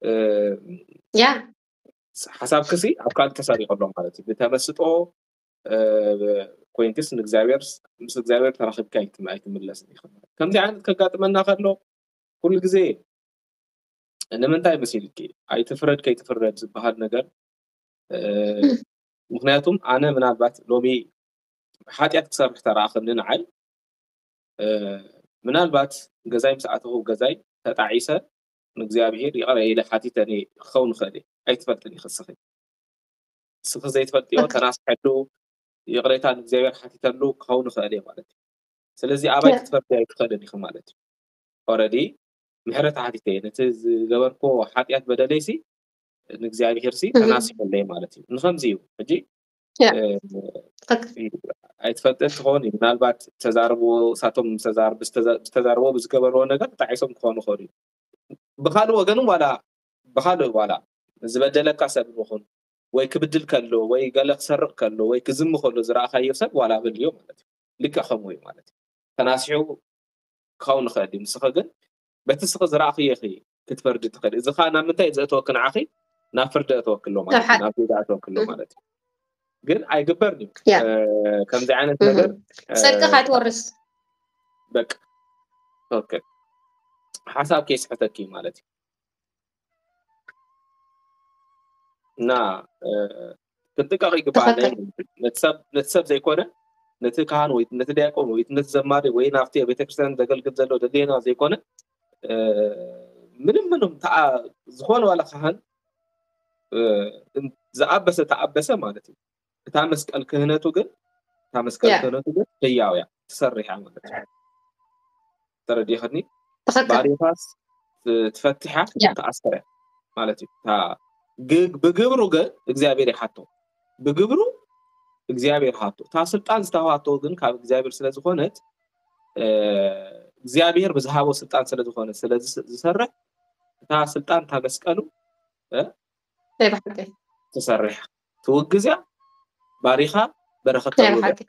እ፣ ያ ሓሳብክሲ ኣብ ካልእ ተሰሪቑ ኣሎ ማለት እዩ ብተመስጦ እ፣ ኮይንክስ ንእግዚኣብሔር ምስ እግዚኣብሔር ተራኺብካ ኣይትም- ኣይትምለስን ኢኻ ከምዚ ዓይነት ከጋጥመና ከሎ ኩሉ ግዜ ንምንታይ መሲልኪ ኣይትፍረድ ከይትፍረድ ዝበሃል ነገር ምክንያቱም ኣነ ምናልባት ሎሚ ሓጢኣት ክሰርሕ ተረኣኸኒ ንዓይ ምናልባት ገዛይ ምስ ኣተኹ ገዛይ ተጣዒሰ ንእግዚኣብሄር ይቕረ ኢለ ሓቲተ ክኸውን ይኽእል እየ ኣይትፈልጥን ይክስኺ ስኺ ዘይትፈልጥዮ ተናስሐሉ ይቕሬታ ንእግዚኣብሄር ሓቲተሉ ክኸውን ይኽእል እየ ማለት እዩ ስለዚ ኣባይ ክትፈርድ ኣይትኽእልን ኢኺ ማለት እዩ ኦረዲ ምሕረት ሓቲተ እየ ነቲ ዝገበርክዎ ሓጢኣት በደለይሲ ንእግዚኣብሄርሲ ተናሲሑለይ ማለት እዩ ንከምዚ እዩ ሕጂ ኣይትፈልጥን ትኸውን እዩ ምናልባት ዝተዛረብዎ ሳቶም ዝተዛረብዎ ብዝገበርዎ ነገር ተጣዒሶም ክኾኑ ይኽእሉ እዩ ብካልእ ወገን ዋላ ብካልእ ዋላ ዝበደለካ ሰብ ንኹን ወይ ክብድል ከሎ ወይ ገለ ክሰርቕ ከሎ ወይ ክዝም ከሎ ዝረእኻዮ ሰብ ዋላ በልዮ ማለት እዩ ልክዕ ከምኡ እዩ ማለት እዩ ተናሲሑ ክኸውን ይኸእል እዩ። ንስኺ ግን በቲ እስኺ ዝረኣኽዮ ኢኺ ክትፈርዲ ትኸእሊ። እዚ ኸኣ ናብ ምንታይ እዩ ዘእትወኪ ንዓኺ? ናብ ፍርዲ የእትወኪ ኣሎ ማለት እዩ። ናብ ጌጋ የእትወኪ ኣሎ ማለት እዩ። ግን ኣይግበርን እዩ ያ ከምዚ ዓይነት እህ፣ ነገር ጽድቂ ካይትወርስ በቃ ኦኬ ሓሳብ ከይስሕተኪ እዩ ማለት እዩ እና ክጥቀቕ ይግባእ ትኽክል ነቲ ሰብ ነቲ ሰብ ዘይኮነ ነቲ ካህን ወይ ነቲ ዲያቆን ወይ ነቲ ዘማሪ ወይ ናብቲ ኣብ ቤተክርስትያን ዘገልግል ዘሎ ደልየና ዘይኮነ እ፣ ምንም ምንም ተኣ ዝኾነ ዋላ ካህን እ፣ እን- ዝኣበሰ ተኣበሰ ማለት እዩ እታ መስቀል ክህነቱ ግን እታ መስቀል ያ ክህነቱ ግን ህያው እያ ትሰርሕ እያ ማለት እዩ ተረዲእክኒ ባሪታስ ትፈትሓ ተኣስረ ማለት እዩ ብግብሩ ግን እግዚኣብሔር ይሓቶ ብግብሩ እግዚኣብሔር ሃቶ እታ ስልጣን ዝተዋሃቶ ግን ካብ እግዚኣብሔር ስለዝኮነት እግዚኣብሔር ብዝሃቦ ስልጣን ስለዝኮነ ስለዝሰርሕ እታ ስልጣን እታ መስቀሉ ተሰርሐ ትውግዝ እያ ባሪኻ በረኸት ናይ ተውህብ ብሓቂ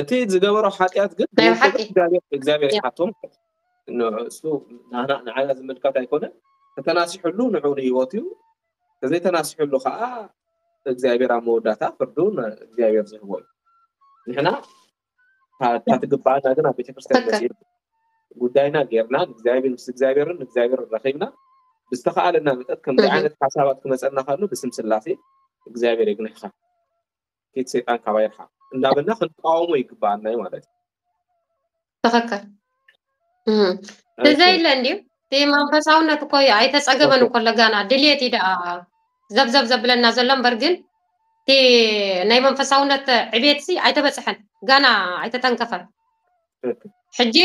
እቲ ዝገበሮ ሓጢኣት ግን ናይ ብውልቁ ብሓቂ እግዚኣብሔር እግዚኣብሔር እያ ይሓቶም ንሱ ንዓና ንዓና ዝምልከት ኣይኮነን ተተናሲሕሉ ንዑ ንህይወቱ እዩ ተዘይተናሲሕሉ ከዓ እግዚኣብሔር ኣብ መወዳእታ ፍርዱ ን እግዚኣብሔር ዝህቦ እዩ ንሕና ታትግባኣና ግን ኣብ ቤተክርስትያን መፂእና ጉዳይና ገይርና ንእግዚኣብሔር ምስ እግዚኣብሔርን ንእግዚኣብሔር ረኪብና ብዝተካኣለና መጠት ከምዚ ዓይነት ሓሳባት ክመፀና ካሉ ብስም ስላሴ እግዚኣብሔር የግንሕካ ኬት ሰይጣን ካባይ ርሓቅ እንዳበልና ክንቃወሞ ይግባኣና ዩ ማለት እዩ ትክክል እዘይ ኢለ እንድዩ እቲ መንፈሳውነት እኮ ኣይተፀገበን እኮ ለጋና ድልየት እዩ ደኣ ዘብዘብ ዘብለና ዘሎ እምበር ግን እቲ ናይ መንፈሳውነት ዕቤት ሲ ኣይተበፅሐን ጋና ኣይተተንከፈን ሕጂ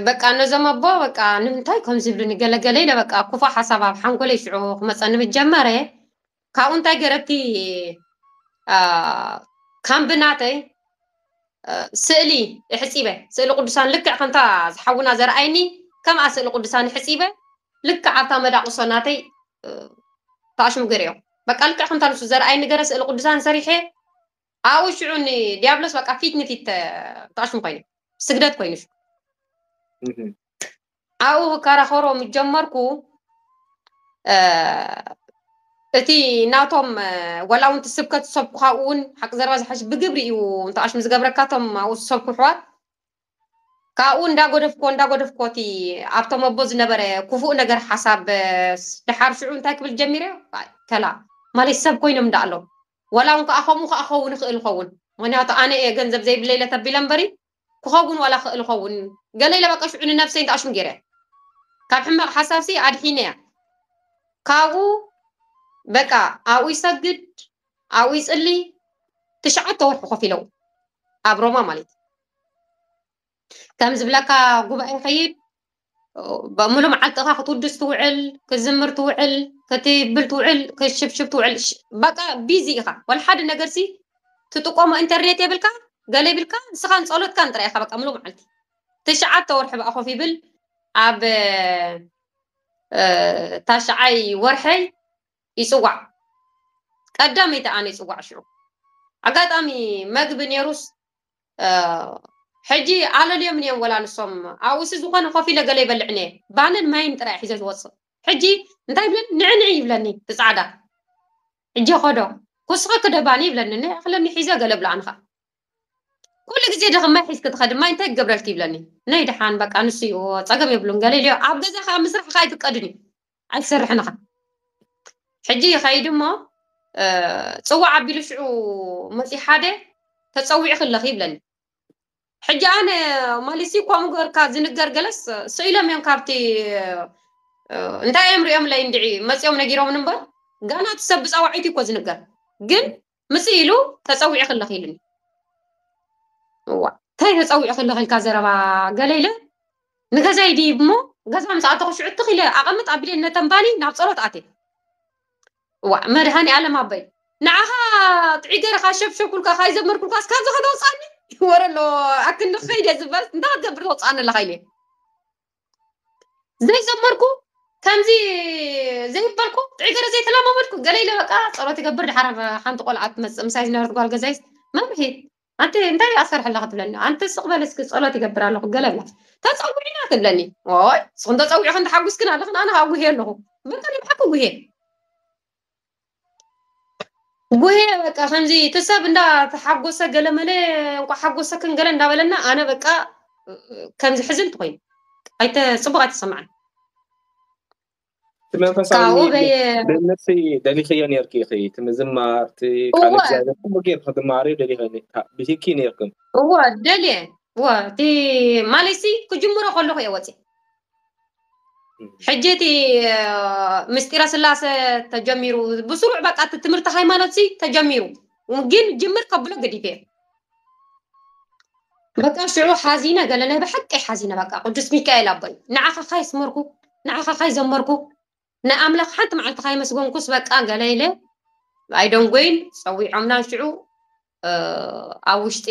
በቃ ነዞም ኣቦ በቃ ንምንታይ ከምዚ ይብሉኒ ገለገለ ኢለ በቃ ኩፉእ ሓሳብ ኣብ ሓንጎለይ ሽዑ ክመፀኒ ምስ ጀመረ ካብኡ እንታይ ገረቲ ካምቢ ናተይ ስእሊ ሕፂበ ስእሊ ቅዱሳን ልክዕ ከምታ ዝሓውና ዘርኣይኒ ከምኣ ስእሊ ቅዱሳን ሕፂበ ልክዕ ኣብታ መዳቑሶ ናተይ ተኣሽሙ ገሪኦ በቃ ልክዕ ከምታ ንሱ ዘርኣይኒ ገረ ስእሊ ቅዱሳን ሰሪሐ ኣብኡ ሽዑ ንድያብሎስ በቃ ፊት ንፊት ተቃሽሙ ኮይኑ ስግደት ኮይኑ ሽዑ ኣብኡ ክከራኸሮ ምስ ጀመርኩ እቲ ናቶም ዋላ እውን ስብከት ዝሰብኩ ካብኡ እውን ሓቂ ዘረባ ዝሓሽ ብግብሪ እዩ እንተቃሽሙ ዝገብረካ እቶም ኣብኡ ዝሰብኩ ኣሕዋት ካብኡ እንዳጎደፍኮ እንዳጎደፍኮ እቲ ኣብቶም ኣቦ ዝነበረ ክፉእ ነገር ሓሳብ ድሓር ሽዑ እንታይ ክብል ጀሚረ ከላ ማለት ሰብ ኮይኖም እንዳ ኣሎ ዋላ ውን ከኣ ከምኡ ከኣ ክኸውን ይኽእል ይኸውን ምኽንያቱ ኣነ እየ ገንዘብ ዘይብለይ ኢለ ተቢለ እምበሪ ክኸውን ዋላ ክኽእል ይኸውን ገለ ኢለ በቃ ሽዑ ንነብሰይ እንተ ኣሽሙ ጌረያ ካብ ሕማቕ ሓሳብሲ ኣድሒነያ ካብኡ በቃ ኣብኡ ይሰግድ ኣብኡ ይጽሊ ትሽዓተ ወርሒ ኮፍ ኢለው ኣብ ሮማ ማለት ከም ዝብለካ ጉባኤ ይኸይድ ሙሉእ መዓልትኻ ክትውድስ ትውዕል፣ ክትዝምር ትውዕል፣ ክትብል ትውዕል፣ ክትሽብሽብ ትውዕል፣ በቃ ቢዚ ኢኻ ወላ ሓደ ነገርሲ ትጥቀሞ ኢንተርኔት የብልካ ገለ ይብልካ ንስኻን ጸሎትካን ጥራይ ኢኻ በቃ ሙሉእ መዓልቲ ትሽዓተ ወርሒ በኣ ኮፍ ይብል ኣብ ታሽዓይ ወርሐይ ይጽዋዕ ቀዳመይቲ ኣነ ይጽዋዕ ሽዑ ኣጋጣሚ መግቢ ነይሩስ ሕጂ ኣለልዮምን እዮም ወላ ንሶም ኣብኡ እሲ ዝኾነ ኮፍ ኢለ ገለ ይበልዕ እንየ ባንን ማይን ጥራይ ሒዘ ዝወጽእ ሕጂ እንታይ ይብለኒ ንዒ ንዒ ይብለኒ እቲ ጻዕዳ ሕጂ ኸዶ ኩስኺ ክደ ባኒ ይብለኒ ንዒ ክለኒ ሒዘ ገለ ብላዕ ንኻ ኩሉ ግዜ ድኺ ማይ ሒዝኪ ትኸዲ ማይ እንታይ ክገብረልኪ ይብለኒ ነይ ድሓን በቃ ንሱ እዩ ጸገም የብሉን ገለልዮ ኣብ ገዛ ከኣ ምስራሕ ከኣ ኣይፍቀድን እዩ ኣይትሰርሕን ኢኻ ሕጂ ይኸይድ እሞ ፅዋዕ ኣቢሉ ሽዑ መፂኡ ሓደ ተፀዊዕኺ ኣለኺ ይብለኒ ሕጂ ኣነ ማለትሲ ከምኡ ገርካ ዝንገር ገለስ ስኢሎም እዮም ካብቲ እንታይ እዮም ሪኦምለይ እንድዒ መፂኦም ነጊሮምን እምበር ጋና እቲ ሰብ ብፃዋዒት እዩ እኮ ዝንገር ግን ምፅእ ኢሉ ተፀዊዑ ክለኽ ኢሉኒ እዋ እንታይ ተፀዊዑ ክለኽ ኢልካ ዘረባ ገለ ኢለ ንገዛይ ድይብ እሞ ገዛ ምስ ኣተኹ ሽዑ ትኽ ኢለ ኣቐምጥ ኣቢለ ነተንባሊ ናብ ፀሎት ኣትየ እዋ መድሃኒ ኣለም ኣበይ ንዓኻ ጥዑይ ገይረ ካብ ሸብሸብኩልካ ካብ ዘመርኩልካስ ካብዚ ከተውፅኣኒ ወረ ኣሎ ኣክንዲ ከይደ ዝበልት እንታይ ክትገብር ተውፅኣኒ ኣለኻ ኢለ ዘይዘመርኩ ከምዚ ዘይበልኩ ጥዑይ ገረ ዘይተለማመድኩ ገለ ኢለ በቃ ጸሎት ይገብር ድሓር ሓንቲ ቆልዓ ትመጽእ ምሳይ ዝነበረት ጓል ገዛይ መምሒ ኣንቲ እንታይ ኣሰርሐ ኣለኻ ትብለኒ ኣንቲ ስቕ በለ እስኪ ጸሎት ይገብር ኣለኹ ገለ ብላ ተጸዊዕና ትብለኒ ኦይ ንስኹም ተጸዊዕኽን ተሓጒስክን ኣለኽን ኣነ ከዓ ጉሄ ኣለኹ በቃ ንብዓኩ ጉሄ ጉሄ በቃ ከምዚ እቲ ሰብ እንዳ ተሓጎሰ ገለመለ እንኳ ሓጎሰክን ገለ እንዳበለና ኣነ በቃ ከምዚ ሕዝንቲ ኮይኑ ኣይተ ፅቡቅ ኣይተሰማዕን እቲ መንፈሳዊ ካብኡ በየ ድህነት ደሊኽዮ ነርኪ ኢኺ እቲ ምዝማር እቲ ቃል እወ እግዚኣብሔር ኩሉ ጌርኪ ክትማሃርዮ ደሊኺ ብሂኪ ነርክን እወ ደልየ እወ እቲ ማለትሲ ክጅምሮ ከለኹ እየ ወፂ ሕጂ እቲ ምስጢረ ስላሰ ተጀሚሩ ብስሩዕ በቃ እቲ ትምህርቲ ሃይማኖት ሲ ተጀሚሩ ግን ጅምር ከብሎ ግዲፈ በቃ ሽዑ ሓዚነ ገለ ናይ ብሓቂ ሓዚነ በቃ ቅዱስ ሚካኤል ኣቦይ ንዓኻ ካይ ስመርኩ ንዓኻ ካይ ዘመርኩ ናይ ኣምላክ ሓንቲ መዓልቲ ካይመስጎንኩስ በቃ ገለ ኢለ ኣይደንጎይን ጸዊዖምና ሽዑ ኣብ ውሽጢ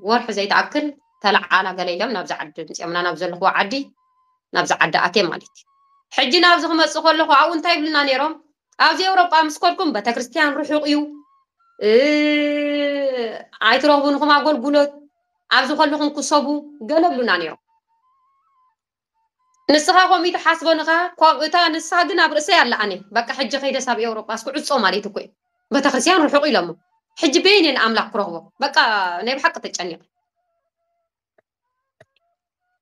ወርሒ ዘይትኣክል ተለዓላ ገለ ኢሎም ናብዚ ዓዲ ምጽኦምና ናብ ዘለኹዎ ዓዲ ናብዚ ዓዲ ኣትየ ማለት እዩ ሕጂ ናብዚ ክመጽእ ከለኹ ኣብኡ እንታይ ይብሉና ነይሮም ኣብዚ ኤውሮጳ ምስ ከድኩም ቤተክርስትያን ርሑቕ እዩ ኣይትረኽቡን ኢኹም ኣገልግሎት ኣብዚ ከለኹም ክሰቡ ገለ ብሉና ነይሮም ንስኻ ኮሚቲ ሓስቦ ንኻ ኮም እታ ንሳ ግን ኣብ ርእሰይ ኣላ ኣነ በቃ ሕጂ ከይደስ ኣብ ኤውሮጳ እስኩ ዕጾ ማለት እኮ እዩ ቤተክርስትያን ርሑቕ ኢሎሞ ሕጂ በየን እየ ንኣምላኽ ክረኽቦ በቃ ናይ ብሓቂ ተጨኒቐ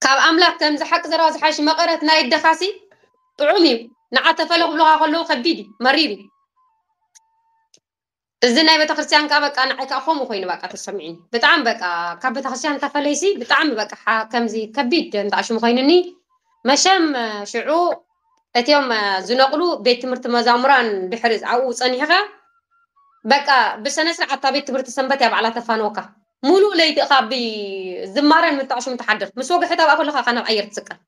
ካብ ኣምላኽ ከምዚ ሓቂ ዘረባ ዝሓሽ መቐረት ናይ ደኻሲ ጥዑም እዩ ንዓ ተፈለ ክብሉኻ ከለዉ ከቢድ እዩ መሪር እዩ እዚ ናይ ቤተክርስትያን ከኣ በቃ ንዓይ ከኣ ከምኡ ኮይኑ በቃ ተሰሚዑኒ ብጣዕሚ በቃ ካብ ቤተክርስትያን ተፈለይሲ ብጣዕሚ በቃ ከምዚ ከቢድ እንተኣሽሙ ኮይኑኒ መሸም ሽዑ እትዮም ዝነቕሉ ቤት ትምህርቲ መዛሙራን ድሕሪ ኣብኡ ጸኒሕኻ በቃ ብሰነ ስርዓት እታ ቤት ትምህርቲ ሰንበት እያ ባዕላ ተፋንወካ ሙሉእ ለይቲ እኻ ብዝማረን ምንታኣሽሙ ትሓድር ምስ ወግሐታ በኣ ከለኻ ካብ ኣየር ትስቀል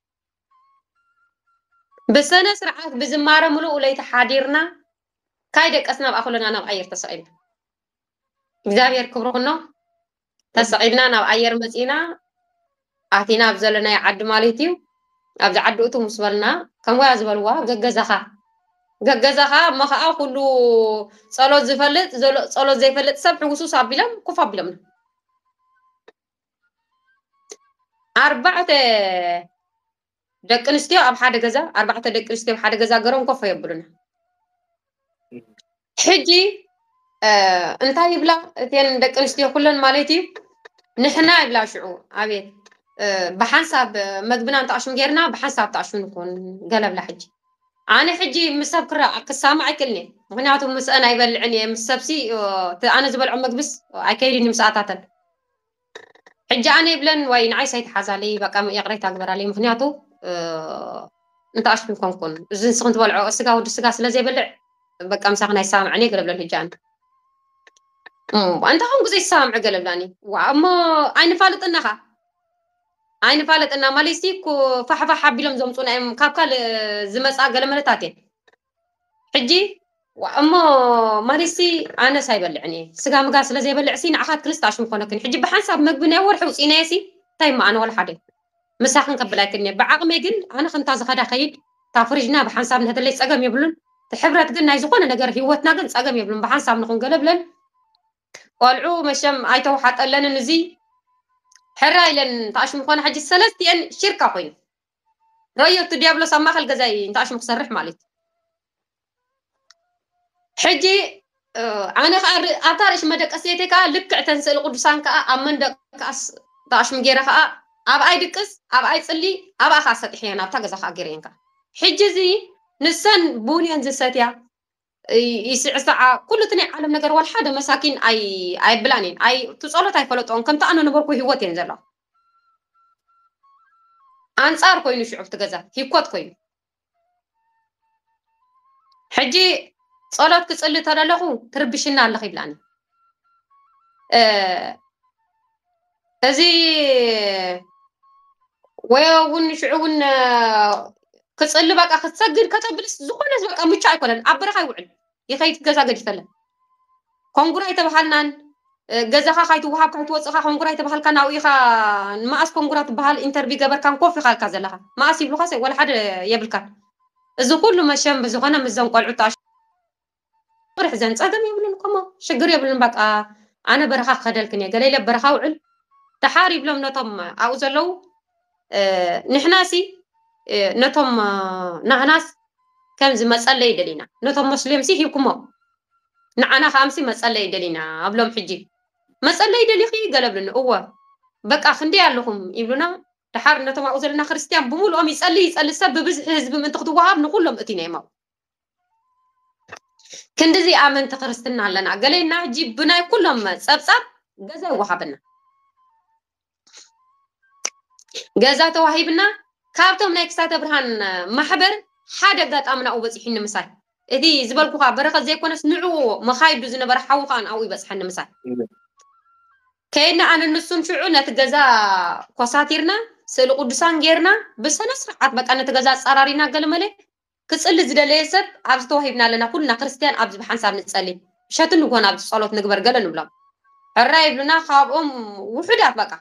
ብሰነ ስርዓት ብዝማረ ምሉእ ለይቲ ሓዲርና ካይ ደቀስና ብኣ ኩልና ናብ ኣየር ተሰቂልና እግዚኣብሔር ክብሩ ኩኖ ተሰቂልና ናብ ኣየር መፂና ኣቲና ኣብ ዘለናዮ ዓዲ ማለት እዩ ኣብዚ ዓዲ እቱ ምስ በልና ከምወያ ዝበልዋ ገገዛኻ ገገዛኻ እሞ ከዓ ኩሉ ፀሎት ዝፈልጥ ፀሎት ዘይፈልጥ ሰብ ሕውሱስ ኣቢሎም ኩፍ ኣቢሎምና ኣርባዕተ ደቂ ኣንስትዮ ኣብ ሓደ ገዛ ኣርባዕተ ደቂ ኣንስትዮ ኣብ ሓደ ገዛ ገሮም ኮፈ የብሉና ሕጂ እንታይ ይብላ እተን ደቂ ኣንስትዮ ኩለን ማለት እዩ ንሕና ይብላ ሽዑ ኣቤት ብሓንሳብ መግብና እንተኣሽም ጌርና ብሓንሳብ ተኣሽም ንኹን ገለብላ ሕጂ ኣነ ሕጂ ምስ ሰብ ክራ ክሳማዕ ኣይክእልን እየ ምክንያቱ ምስአን ኣይበልዕን እየ ምስ ሰብሲ ኣነ ዝበልዖ መግብስ ኣይከይድን እዩ ምስኣታተን ሕጂ ኣነ ይብለን ዋይ ንዓይ ሳይተሓዛለይ በቃ ይቕሬታ ግበራለይ ምክንያቱ እንተኣሽቱ ኮንኩን እዚ ንስኺ ትበልዖ ስጋ ወዲ ስጋ ስለ ዘይበልዕ በቃ ምሳኽን ኣይሰማምዕን እየ ገለ ብለን ሕጂ ኣነ እንታይ ኮንኩ ዘይሰማምዕ ገለ ብላኒ እሞ ኣይንፋልጥና ኸ ኣይንፋልጥና ማለት ሲ ፋሕፋሕ ኣቢሎም ዘምፁና እዮም ካብ ካልእ ዝመፅኣ ገለ መለታት እየን ሕጂ እሞ ማሪሲ ኣነስ ኣይበልዕን እየ ስጋ ምጋ ስለ ዘይበልዕ ሲ ንዓኻት ክልስተ ኣሽሙ ኮነክን ሕጂ ብሓንሳብ መግቢ ናይ ወርሒ ውፅኢናየ ሲ እንታይ እሞ ኣነ ወላ ሓደ ምሳኽን ከብል ኣይክን እየ ብዓቕመይ ግን ኣነ ከምታ ዝኸዳ ከይድ እታ ፍሪጅና ብሓንሳብ ንህደለይ ፀገም የብሉን ትሕብረት ግን ናይ ዝኾነ ነገር ህይወትና ግን ፀገም የብሉን ብሓንሳብ ንኹን ገለ ብለን ቆልዑ መሸም ኣይተውሓጠለንን እዚ ሕራ ኢለን ተኣሽሙ ኮነ ሕጂ ሰለስቲአን ሽርካ ኮይኑ ራዮ እቲ ዲያብሎስ ኣብ ማእከል ገዛይ እንተ ኣሽሙ ክሰርሕ ማለት ሕጂ ኣነ ከዓ ኣብታ ርእሲ መደቀስ ዘይተይ ከዓ ልክዕ ተን ስእሊ ቅዱሳን ከዓ ኣብ መንደቅ ከዓ ተኣሽሙ ገይረ ከዓ ኣብኣይ ድቅስ ኣብኣይ ፅሊ ኣብኣ ከዓ ሰጢሐየን ኣብታ ገዛ ከዓ ገይረየን ከዓ ሕጂ እዚ ንሰን ቡን እየን ዝሰትያ ይስዕስዓ ኩሉ እቲ ናይ ዓለም ነገር ወልሓደ መሳኪን ኣይ ኣየብላን እየን ኣይ እቲ ጸሎት ኣይፈለጥኦን ከምቲ ኣነ ነበርኩ ሂወት እየን ዘለዋ ኣንጻር ኮይኑ ሽዑ ኣብቲ ገዛ ሂኮት ኮይኑ ሕጂ ጸሎት ክጽሊ ተለለኹ ትርብሽና ኣለኺ ይብላኒ እዚ ወዮ እውን ንሽዑ እውን ክፅሊ በቃ ክትሰግድ ከተብልስ ዝኾነ በቃ ምቹ ኣይኮነን። ኣብ በረኻ ይውዕል ይኸይድ ገዛ ገዲፈለ ኮንጉራ ኣይተባሃልናን ገዛኻ ካይትወሃብ ካይትወፅኻ ኮንጉራ ኣይተባሃልካ ናብኡ ኢኻ መኣስ ኮንጉራ ትበሃል ኢንተርቪ ገበርካን ኮፍ ኢኻ ኢልካ ዘለኻ መኣስ ይብሉኻ ወላ ሓደ የብልካን እዚ ኩሉ መሸም ብዝኾነ ምስዞም ቆልዑ ወርሕ ዘን ጸገም የብሉን እኮ እሞ ሽግር የብሉን በቃ ኣነ በረኻ ክኸደልክን እየ ገለ ኢለ በረኻ ውዕል ደሓር ይብሎም ነቶም ኣብኡ ዘለዉ ንሕናሲ ነቶም ናህናስ ከምዚ መጸለይ ደሊና ነቶም መስልዮምሲ ሂብኩሞ ንዓና ከዓ ምሲ መጸለይ ደሊና ኣብሎም ሕጂ መጸለይ ደሊኺ ገለ ብሉኒ እወ በቃ ክንደይ ኣለኹም ይብሉና ድሓር ነቶም ኣብኡ ዘለና ክርስትያን ብምሉኦም ይጸሊ ይጸሊ ሰብ ብብዝሒ ህዝቢ ምእንቲ ክትወሃብ ንኩሎም እቲና እዮም ኣብኡ ክንድዚ ኣመንቲ ክርስትና ኣለና ገሌና ሕጂ ብናይ ኩሎም ጸብጻብ ገዛ ይወሃበና ገዛ ተዋሂብና ካብቶም ናይ ክሳተ ብርሃን ማሕበር ሓደ ኣጋጣሚ ናብኡ በፂሑኒ ምሳይ እቲ ዝበልኩኻ በረኸት ዘይኮነስ ንዕኡ መኻይዱ ዝነበረ ሓዊ ከዓ ናብኡ ይበፅሐኒ ምሳይ ከይድና ኣነ ንሱን ሽዑ ነቲ ገዛ ኮሳቲርና ስእሊ ቅዱሳን ጌርና ብስነ ስርዓት በቃ ነቲ ገዛ ኣፀራሪና ገለመለ ክጽሊ ዝደለየ ሰብ ኣብዚ ተዋሂብና ኣለና ኩልና ክርስትያን ኣብዚ ብሓንሳብ ንጸሊ ምሸት ንግሆን ኣብዚ ጸሎት ንግበር ገለ ንብሎም ሕራይ ይብሉና ካብኦም ውሑዳት በቃ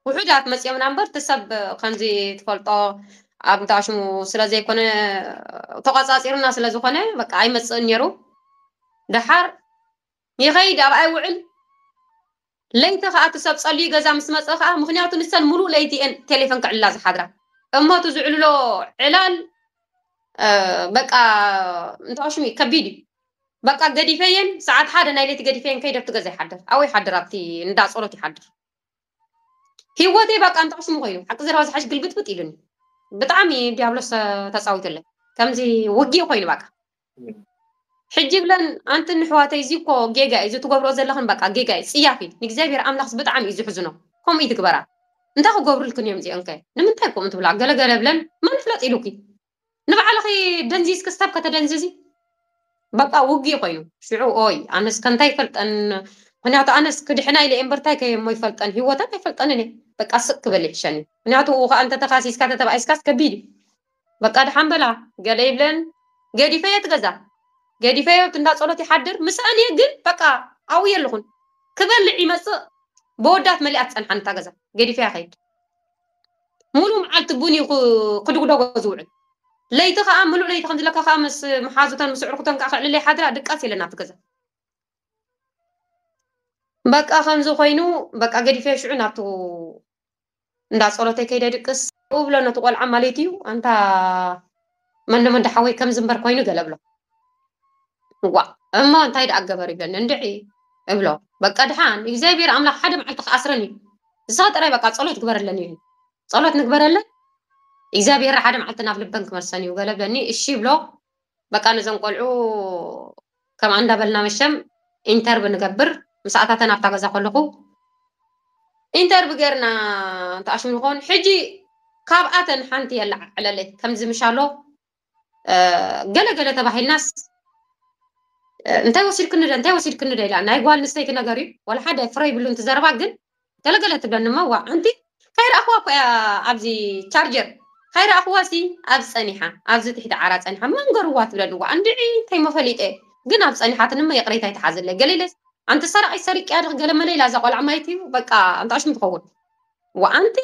ውሑዳት መጽዮምና እምበር እቲ ሰብ ከምዚ ትፈልጦ ኣብ እንተ ኣሽሙ ስለ ዘይኮነ ተቋጻጺሩና ስለ ዝኾነ በቃ ኣይመጽእን ነይሩ ደሓር ይኸይድ ኣብኣ ይውዕል ለይቲ ከኣ እቲ ሰብ ጸልዩ ገዛ ምስ መጸ ከኣ ምኽንያቱ ንሰን ምሉእ ለይቲ እየን ቴሌፈን ክዕልላ ዝሓድራ እሞ እቲ ዝዕልሎ ዕላል በቃ እንታይ ሽሙ እዩ ከቢድ እዩ በቃ ገዲፈየን ሰዓት ሓደ ናይ ለይቲ ገዲፈየን ከይደ ኣብቲ ገዛ ይሓድር ኣብኡ ይሓድር ኣብቲ እንዳ ጸሎት ይሓድር ሂወተይ በቃ እንተ ቅስሙ ኮይኑ ሓቂ ዘረባ ዝሓሽ ግልብጥብጥ ኢሉኒ ብጣዕሚ ዲያብሎስ ተጻዊቱለይ ከምዚ ውግእ ኮይኑ በቃ ሕጂ ብለን ኣንቲ ንሕዋተይ እዚ እኮ ጌጋ እዩ ዝትገብሮ ዘለኽን በቃ ጌጋ እዩ ጽያፍ እዩ ንእግዚኣብሔር ኣምላኽ ብጣዕሚ እዩ ዝሕዝኖ ከምኡ ይትግበራ እንታይ ክገብሩልክን እዮም እዚኦንከ ንምንታይ ከምኡ ትብላ ገለገለ ብለን መን ፍለጥ ኢሉኪ ንባዕልኺ ደንዚዝኪ ሰብ ከተደንዝዚ በቃ ውግእ ኮዩ ሽዑ ኦይ ኣነስ ከንታይ ይፈልጠን ምክንያቱ ኣነስ ክድሕና ኢለ እምበር ታይ ከየሞ ይፈልጠን ሂወተን ኣይፈልጠንን እየ በቃ ስቅ ክበል ይሕሸኒ ምክንያቱ ኡ ከዓ እንተ ተካሲስካ ተተባኢስካስ ከቢድ እዩ በቃ ድሓን በላ ገለ ይብለን ገዲፈዮ እቲ ገዛ ገዲፈዮ ኣብቲ እንዳ ጸሎት ይሓድር ምስኣን እየ ግን በቃ ኣብኡ የለኹን ክበልዕ ይመጽእ ብወዳት መሊኣ ትጸንሓን እታ ገዛ ገዲፈያ ከይድ ሙሉእ መዓልቲ ቡን እዩ ክድጉደጎ ዝውዕል። ለይቲ ከኣ ምሉእ ለይቲ ከምዚ ለካ ከኣ ምስ መሓዙተን ምስ ኣዕርኹተን ከኣ ከዕልላ ይሓድራ ድቃስ የለን ኣብቲ ገዛ። በቃ ከምዚ ኮይኑ በቃ ገዲፈዮ ሽዑ ናብቲ እንዳ ጸሎተይ ከይደ ድቅስ እብሎ ነቲ ቆልዓ ማለት'ዩ ኣንታ መንደሞ እንዳ ሓወይ ከምዚ እምበር ኮይኑ ገለ እብሎ ዋእ እሞ እንታይ ደኣ ገበሩ ይብለኒ እንድዒ እብሎ በቃ ድሓን እግዚኣብሔር ኣምላኽ ሓደ መዓልቲ ክኣስረን እዩ ንስኻ ጥራይ በቃ ጸሎት ግበረለን እዩ ጸሎት ንግበረለን እግዚኣብሔር ሓደ መዓልቲ ናብ ልበን ክመልሰን እዩ ገለ ብለኒ እሺ ይብሎ በቃ ነዞም ቆልዑ ከምኣ እንዳ በልና መሸም ኢንተርብ ንገብር ምስ ኣታተን ኣብታ ገዛ ከለኩ ኢንተርብ ገርና እንተ ኣሽሙ ንኮን ሕጂ ካብኣተን ሓንቲ የለዓዕለለይ ከምዚ ምሻሎ ገለ ገለ ተባሂልናስ እንታይ ወሲድክኒ እንታይ ወሲድክኒ ኢላ ናይ ጓል ንስተይቲ ነገር እዩ ዋላ ሓደ ፍረ ይብሉን ትዘረባ ግን ገለገለ ትብለኒ እሞ ዋእ ኣንቲ ካይረኣክዋ እኮ እያ ኣብዚ ቻርጀር ካይረኣክዋ ሲ ኣብ ጸኒሓ ኣብዚ ትሕቲ ዓራት ጸኒሓ መን ገርዋ ትብለኒ ዋእ እንድዒ እንታይ እሞ ፈሊጠ ግን ኣብ ጸኒሓትኒ እሞ ይቅሬታ ይትሓዘለይ ገለ ኢለስ ኣንቲ ሰራቒት ሰሪቅያ ድኺ ገለ መለ ኢላ እዛ ቆልዓ ማለት እዩ በቃ ኣንታ ሽም ትኸውን ዋእ ኣንቲ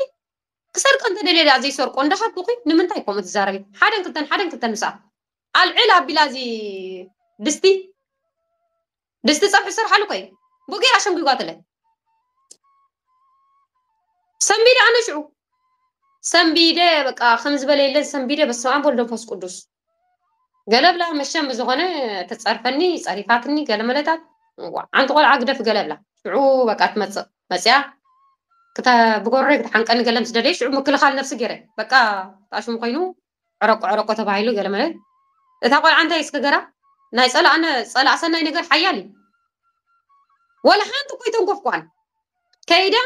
ክሰርቀ እንተደልየ ድኣ ዘይሰርቆ እንዳሃብኩኺ ንምንታይ ከምኡ ትዛረቢ ሓደን ክልተን ሓደን ክልተን ምስኣ ኣልዕል ኣቢላ እዚ ድስቲ ድስቲ ፀብሒ ዝሰርሓሉ እኮ እዩ ብኡ ገይራ ሸንጒጓትለ ሰንቢደ ኣነ ሽዑ ሰንቢደ በቃ ከም ዝበለ የለን ሰንቢደ በስመ ኣብ ወልድ መንፈስ ቅዱስ ገለብላ መሸም ብዝኾነ ትፀርፈኒ ፀሪፋትኒ ገለመለታት ዓንቲ ቆልዓ ግደፍ ገለብላ ሽዑ በቃ ትመፅእ መፅያ ብጎረይ ክትሓንቀኒ ገለ ምስ ደለየ ሽዑ ምክልኻል ነብሲ ገይረ በቃ ጣሽሙ ኮይኑ ዕረቁ ዕረቁ ተባሂሉ ገለመለ እታ ቆልዓ እንታይ እዩ ስገገራ ናይ ጸላእነ ጸላእ ሰናይ ነገር ሓያል እዩ ወላ ሓንቲ እኮ ይተንኮፍኳን ከይዳ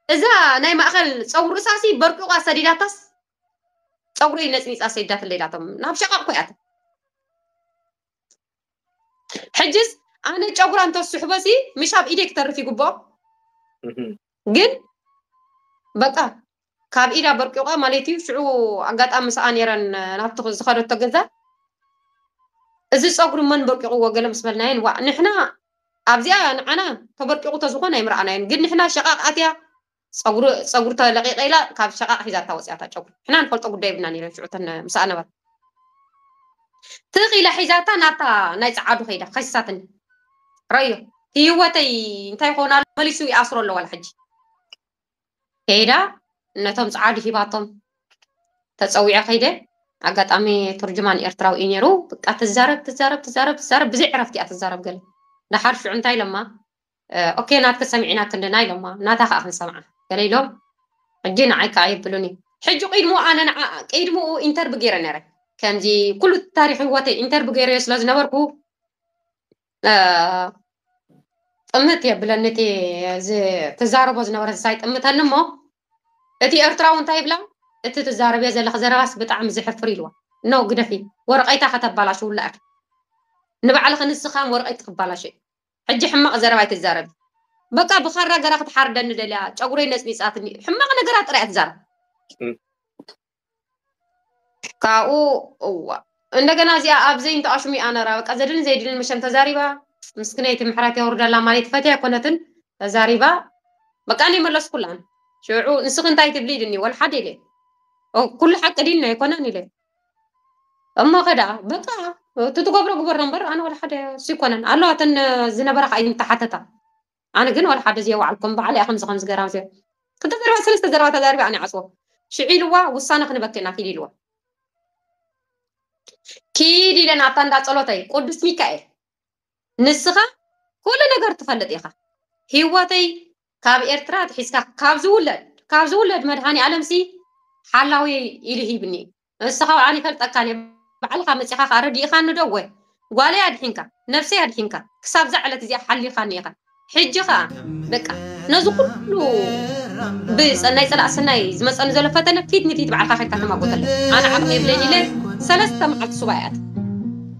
እዛ ናይ ማእኸል ፀጉሪ ርእሳሲ በርቂቋ ሰዲዳታስ ፀጉረይ ነፅኒፃ ሰዲዳት ለይላቶም ናብ ሸቃቕ እኮ እያት ሕጅስ ኣነ ጨጉራ እንተስሕቦ ሲ ምሽ ኣብ ኢደይ ክተርፍ ይግብኦ ግን በቃ ካብ ኢዳ በርቂቋ ማለት እዩ ሽዑ ኣጋጣሚ ሰኣ ነይረን ናብቲ ዝኸደቶ ገዛ እዚ ፀጉሪ መን በርቂቑዎ ገለ ምስ በልናየን ዋእ ንሕና ኣብዚኣ ንዓና ተበርቂቑ ተዝኾን ኣይምረኣናዮን ግን ንሕና ሸቓቕ ኣትያ ፀጉሪ ፀጉሪ ተለቂቐ ኢላ ካብ ሸቓቕ ሒዛታ ወፂኣታ ጨጉሪ ንሕና ንፈልጦ ጉዳይ የብልናን ኢለን ሽዑ እተን ምስኣ ነበራ ትኽ ኢላ ሒዛታ ናብታ ናይ ጸዓዱ ከይዳ ከሲሳትኒ ረዮ ህይወተይ እንታይ ኮን ኣሎ መሊሱ ይኣስሮ ኣሎ ዋላ ሕጂ ከይዳ ነቶም ጸዓዱ ሂባቶም ተጸዊዐ ከይደ ኣጋጣሚ ቱርጅማን ኤርትራዊ እዩ ነይሩ ብቃ ትዛረብ ትዛረብ ትዛረብ ትዛረብ ብዘይ ዕረፍቲ እያ ትዛረብ ገለ ደሓር ሽዑ እንታይ ኢሎማ ኦኬ ናትኪ ሰሚዕና ክንድና ኢሎማ ናታ ከኣ ክንሰምዓ ገለ ኢሎም ሕጂ ንዓይ ከኣ የብሉን እዩ ሕጂ ቂድሙ ኣነ ንዓ ቂድሙኡ ኢንተርቢ ጌረ ነረ ከምዚ ኩሉ ታሪክ ሂወተይ ኢንተርቢ ጌረዮ ስለ ዝነበርኩ ጥምት የብለኒ እቲ ትዛረቦ ዝነበረ እንስሳ ይጥምተኒ እሞ እቲ ኤርትራዊ እንታይ ይብላ እቲ ትዛረብዮ ዘለኺ ዘረባስ ብጣዕሚ ዘሕፍር ኢልዋ ኖ ግደፊ ወረቀይታ ከተባላሽውላ ኢኺ ንባዕልኺ ንስኻም ወረቀይት ክባላሽ እዩ ሕጂ ሕማቅ ዘረባ ኣይትዛረቢ በቃ ብካራ ገራ ክትሓርደኒ ደልያ ጨጉረይ ነጽኒጻትኒ ሕማቅ ነገራት ጥራይ እያ ትዛረብ። ካብኡ እዋ እንደገና እዚኣ ኣብ ዘይንቱ ኣሽሚኣ ነራ በቃ ዘድልን ዘይድልን መሸም ተዛሪባ ምስክነይቲ ምሕረት የውርደላ ማለት ፈትያ ኣይኮነትን ተዛሪባ በቃ እኔ መለስኩላን ሽዑ ንስኺ እንታይ ትብሊ ኢልኒ ወልሓድ ኢለ ኩሉ ሓቂ ዲና ኣይኮነን ኢለ እሞ ከደኣ በቃ እቲ ትገብሮ ግበሮ እምበር ኣነ ዋላ ሓደ ስይኮነን ኣለዋ እተን ዝነበራ ከዓ ይምተሓተታ ኣነ ግን ዋላ ሓደ ዘየዋዓልኩም በዓል እያ ከምዚ ከምዚ ገራ ዚኣ ክልተ ዘረባ ሰለስተ ዘረባ ተዛሪበ ኣነ ይዓፅዎ ሽዒ ኢልዋ ውሳነ ክንበክ ኢና ኪድ ኢልዋ ኪድ ኢለን ኣብታ እንዳ ፀሎተይ ቅዱስ ሚካኤል ንስኻ ኩሉ ነገር ትፈልጥ ኢኻ ሂወተይ ካብ ኤርትራ ኣትሒዝካ ካብ ዝውለድ ካብ ዝውለድ መድሃኒኣለምሲ ሓላዊ ኢሉ ሂብኒ እዩ ንስኻ ኣነ ይፈልጠካን እየ ባዕልኻ መጺኻ ከኣ ረዲእኻኒ ዶ እወ ጓለይ ኣድሒንካ ነፍሰይ ኣድሒንካ ክሳብ እዛ ዕለት እዚኣ ሓሊኻኒ ኢኻ ሕጂ ከኣ በቃ ነዚ ኩሉ ብሰናይ ጸላእ ሰናይ ዝመጸኒ ዘሎ ፈተነ ፊት ንፊት ባዕልካ ከድካ ተማጎተለ ኣነ ዓቕሚ የብለይን ኢለ ሰለስተ መዓልቲ ሱባኤ ኣት